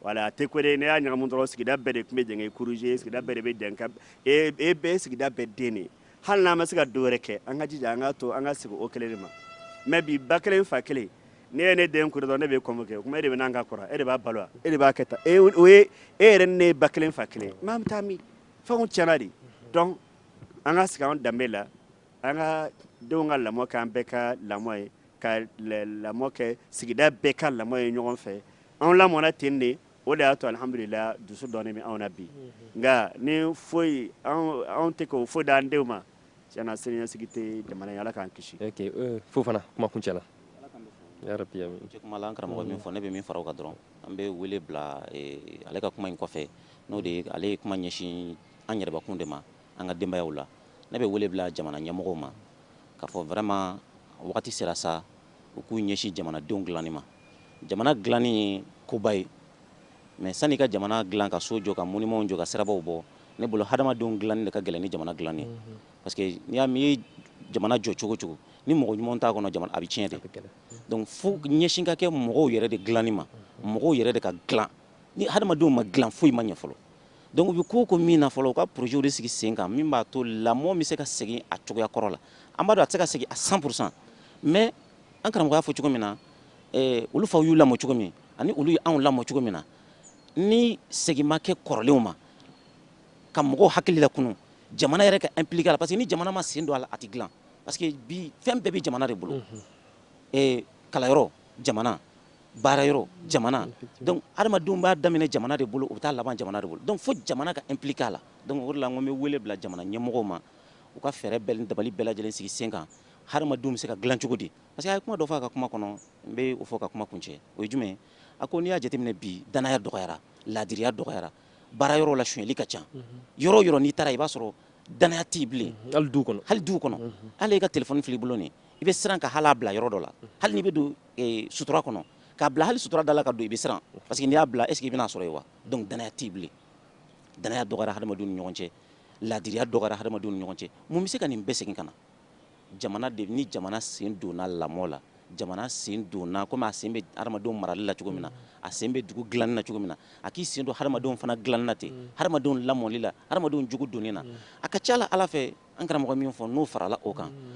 wala a tɛ kore n'e y'a ɲagami dɔrɔn sigida bɛɛ de tun bɛ jɛn k'e corriger sigida bɛɛ de bɛ jɛn k'e bɛɛ sigida bɛɛ den de hali n'an ma se ka dɔ wɛrɛ kɛ an ka jija an ka to an ka segin o kelen de ma mais bi ba kelen fa kelen ne ye ne den kuru dɔn ne bɛ kɔmɔ kɛ o kuma e de bɛ n'an ka kɔrɔ e de b'a balo e de b'a kɛ tan o ye e yɛrɛ ne ye ba kelen fa kelen n'an bɛ taa min fɛnw cɛnna de donc an ka segin an danbe la an ka denw ka lamɔ kɛ an bɛɛ ka lamɔ ye ka lamɔ kɛ sigida bɛɛ ka lamɔ ye ɲɔgɔn fɛ an lamɔna ten de o de y'a to alhamdulilahi dusu dɔɔnin bɛ anw na bi nka ni foyi anw tɛ ka foyi di an denw ma tiɲɛ na siniɲɛsigi tɛ jamana ye ala k'an kisi Fofana kuma kuncɛ la an karamɔgɔ min fɔ ne bɛ min fara o kan dɔrɔn an bɛ wele bila ale ka kuma in kɔfɛ n'o tɛ ale ye kuma ɲɛsin an yɛrɛbakun de ma an ka denbayaw la ne bɛ wele bila jamana ɲɛmɔgɔw ma k'a fɔ vraiment wagati sera sa u k'u ɲɛsin jamanadenw dilanni ma jamana dilanni ye koba ye mais sani ka jamana dilan ka so jɔ ka monuments jɔ ka sirabaw bɔ ne bolo hadamadenw dilanni de ka gɛlɛn ni jamana dilanni ye mhm. parce que n'i y'a mɛn i ye jamana jɔ cogo o cogo ni mɔgɔ ɲuman t'a kɔnɔ jamana a bɛ tiɲɛ de donc fo ɲɛsin ka kɛ mɔgɔw yɛrɛ de dilanni ma mhm. mɔgɔw yɛrɛ de ka dilan ni hadamadenw ma dilan foyi ma ɲɛ fɔlɔ Donc u bɛ ko o ko min na fɔlɔ u ka projets de sigi sen kan min b'a to lamɔ bɛ se ka segin a cogoya kɔrɔ la an b'a dɔn a tɛ se ka segin à 100 pour cent mais an karamɔgɔ y'a fɔ cogo min na eh, olu faw y'u lamɔ cogo min ani olu ye anw lamɔ cogo min na ni segin ma kɛ kɔrɔlenw ma ka mɔgɔw hakili lakunu jamana yɛrɛ ka impliquer a la parce que ni jamana m'a sen don a la a tɛ dilan parce que bi fɛn bɛɛ bɛ jamana de bolo eh, kalanyɔrɔ jamana baara yɔrɔ jamana donc hadamadenw b'a daminɛ jamana de bolo u bɛ taa laban jamana de bolo donc fo jamana ka impliquer a la donc o de la n ko n bɛ wele bila jamana ɲɛmɔgɔw ma u ka fɛɛrɛ bɛɛ dabali bɛɛ lajɛlen sigi sen kan hadamadenw bɛ se ka dilan cogo di parce que a ye kuma dɔ fɔ a ka kuma kɔnɔ n bɛ o fɔ ka kuma kuncɛ o ye jumɛn a ko n'i y'a jateminɛ bi danaya dɔgɔyara laadiriya dɔgɔyara baara yɔrɔ la sonyali ka ca yɔrɔ yɔrɔ n'i taara i b'a sɔrɔ danaya tɛ yen bilen hali duw kɔnɔ hali duw kɔnɔ hali i ka telefɔni filɛ i bolo nin i bɛ siran ka hal'a bila yɔrɔ dɔ la hali n'i bɛ don sutura kɔnɔ k'a bila hali sutura da la ka don i bɛ siran parce que n'i y'a bila est ce que i bɛn'a sɔrɔ yen wa donc danaya tɛ yen bilen danaya dɔgɔyara hadamadenw ni ɲɔgɔn cɛ laadiriya dɔgɔyara hadamadenw ni ɲɔgɔn cɛ mun bɛ se ka nin bɛɛ segin ka na jamana de ni jamana sen donna lamɔ la jamana sen donna komi a sen bɛ hadamadenw marali la cogo min na a sen bɛ dugu dilanni na cogo min na a k'i sen don hadamadenw fana dilanni na ten mm. hadamadenw lamɔli la hadamadenw jogo donni na mm. a ka ca la ala fɛ an karamɔgɔ min fɔ n'o farala o kan mm.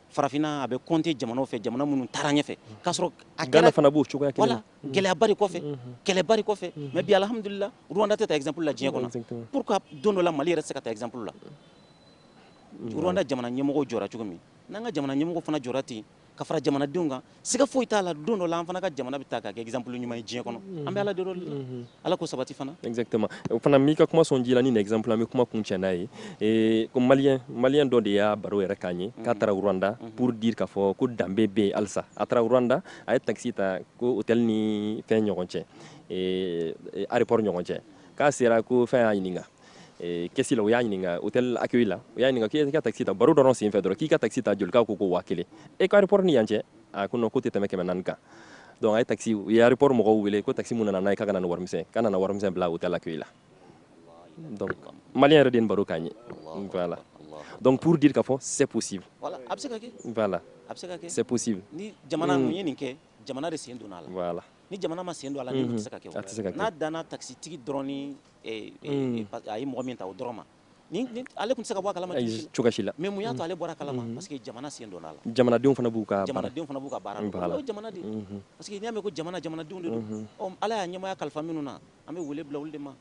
farafinna a bɛ compter jamanaw fɛ jamana minnu taara ɲɛfɛ k'a sɔrɔ a gɛlɛ fana b'o cogoya wala gɛlɛyabari kɔfɛ kɛlɛbari kɔfɛ mais bi alhamdulila rwanda tɛ ta exemple la diɲɛ kɔnɔ pour que don dɔ la mali yɛrɛ se ka ta exemple la rwanda jamana ɲɛmɔgɔw jɔra cogo min n'an ka jamana ɲɛmɔgɔw fana jɔra ten ka fara jamanadenw kan siga foyi t'a la don dɔ la an fana ka jamana bɛ ta k'a kɛ exemple ɲuman ye diɲɛ kɔnɔ an bɛ ala deli o de la mhm. ala k'o sabati fana exactement o fana n b'i ka kuma sɔn ji la ni nin exemple an bɛ kuma kuncɛ n'a ye eh, ko maliyɛn maliyɛn dɔ de y'a baro yɛrɛ k'an ye k'a mhm. taara rwanda mhm. pour dire k'a fɔ ko danbe bɛ yen halisa a taara rwanda a ye taxi ta ko hôtel ni fɛn ɲɔgɔn cɛ eh, eh, aéroport ɲɔgɔn cɛ k'a sera ko fɛn y'a ɲininka Eh, kɛsi la u y'a ɲininka hôtel accueil la u y'a ɲininka k'i ka taxi ta baro dɔrɔn senfɛ dɔrɔn k'i ka taxi ta joli k'a ko ko waa kelen eh ko aéroport ni yan cɛ a ko non k'o tɛ tɛmɛ kɛmɛ naani kan donc a ye taxi u ye aéroport mɔgɔw wele ko taxi min nana n'a ye k'a ka na ni warimisɛn k'a nana warimisɛn bila hôtel accueil la donc malien yɛrɛ de nin baro k'an ye voilà donc pour dire k'a fɔ c'est possible voilà a bɛ se ka kɛ voilà a bɛ se ka kɛ c'est possible ni jamana mun ye nin kɛ jamana de sen donna a la voilà ni jamana ma sen don a la nin tɛ se ka kɛ n'a danna taxi tigi dɔrɔn ni a ye mɔgɔ min ta o dɔrɔn ma ale tun tɛ se ka bɔ a kala ma cogo si la mais mun y'a to ale bɔra a kala ma parce que jamana sen donn'a la jamanadenw fana b'u ka jamanadenw fana b'u ka baara la jamana de parce que n'i y'a mɛn ko jamana jamanadenw de don ala y'a ɲɛmaaya kalifa minnu na an bɛ wele bila olu de ma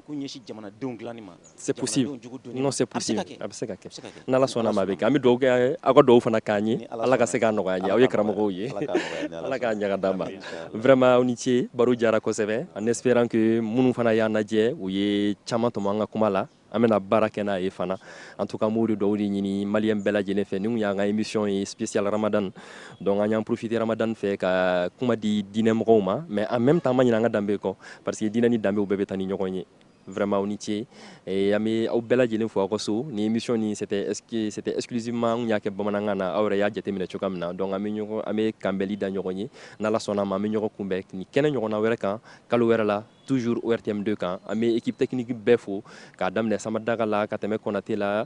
k'u ɲɛsin jamanadenw dilanni ma se se a bɛ se ka kɛ n'ala sɔnn'a ma a bɛ kɛ an bɛ dugaw kɛ aw ka dugaw fana k'an ye ala ka se k'a nɔgɔya an ye aw ye karamɔgɔw ye ala k'a ɲaga d'a ma vraiment aw ni ce baro diyara kosɛbɛ en espérant que minnu fana y'an lajɛ u ye caman tɔmɔ an ka kuma la an bɛna baara kɛ n'a ye fana en tout cas n b'o de dɔw de ɲini maliyɛn bɛɛ lajɛlen fɛ nin y'an ka émission ye spécial ramadan donc an y'an profité ramadan fɛ ka kuma di diinɛ mɔgɔw ma mais en même temps an ma ɲinɛ an ka danbe kɔ parce que diinɛ ni danbew bɛɛ bɛ taa ni ɲɔgɔn ye Vraiment aw ni ce eh, an bɛ aw bɛɛ lajɛlen fo aw ka so ni émission ni c'était c'était exclusivement an y'a kɛ bamanankan na aw yɛrɛ y'a jateminɛ cogoya min na donc an bɛ ɲɔgɔn an bɛ kanbɛli da ɲɔgɔn ye n'Ala sɔnn'a ma an bɛ ɲɔgɔn kunbɛn ni kɛnɛ ɲɔgɔnna wɛrɛ kan kalo wɛrɛ la toujours ORTM2 kan an bɛ équipe technique bɛɛ fo k'a daminɛ Samadaka la ka tɛmɛ Konate la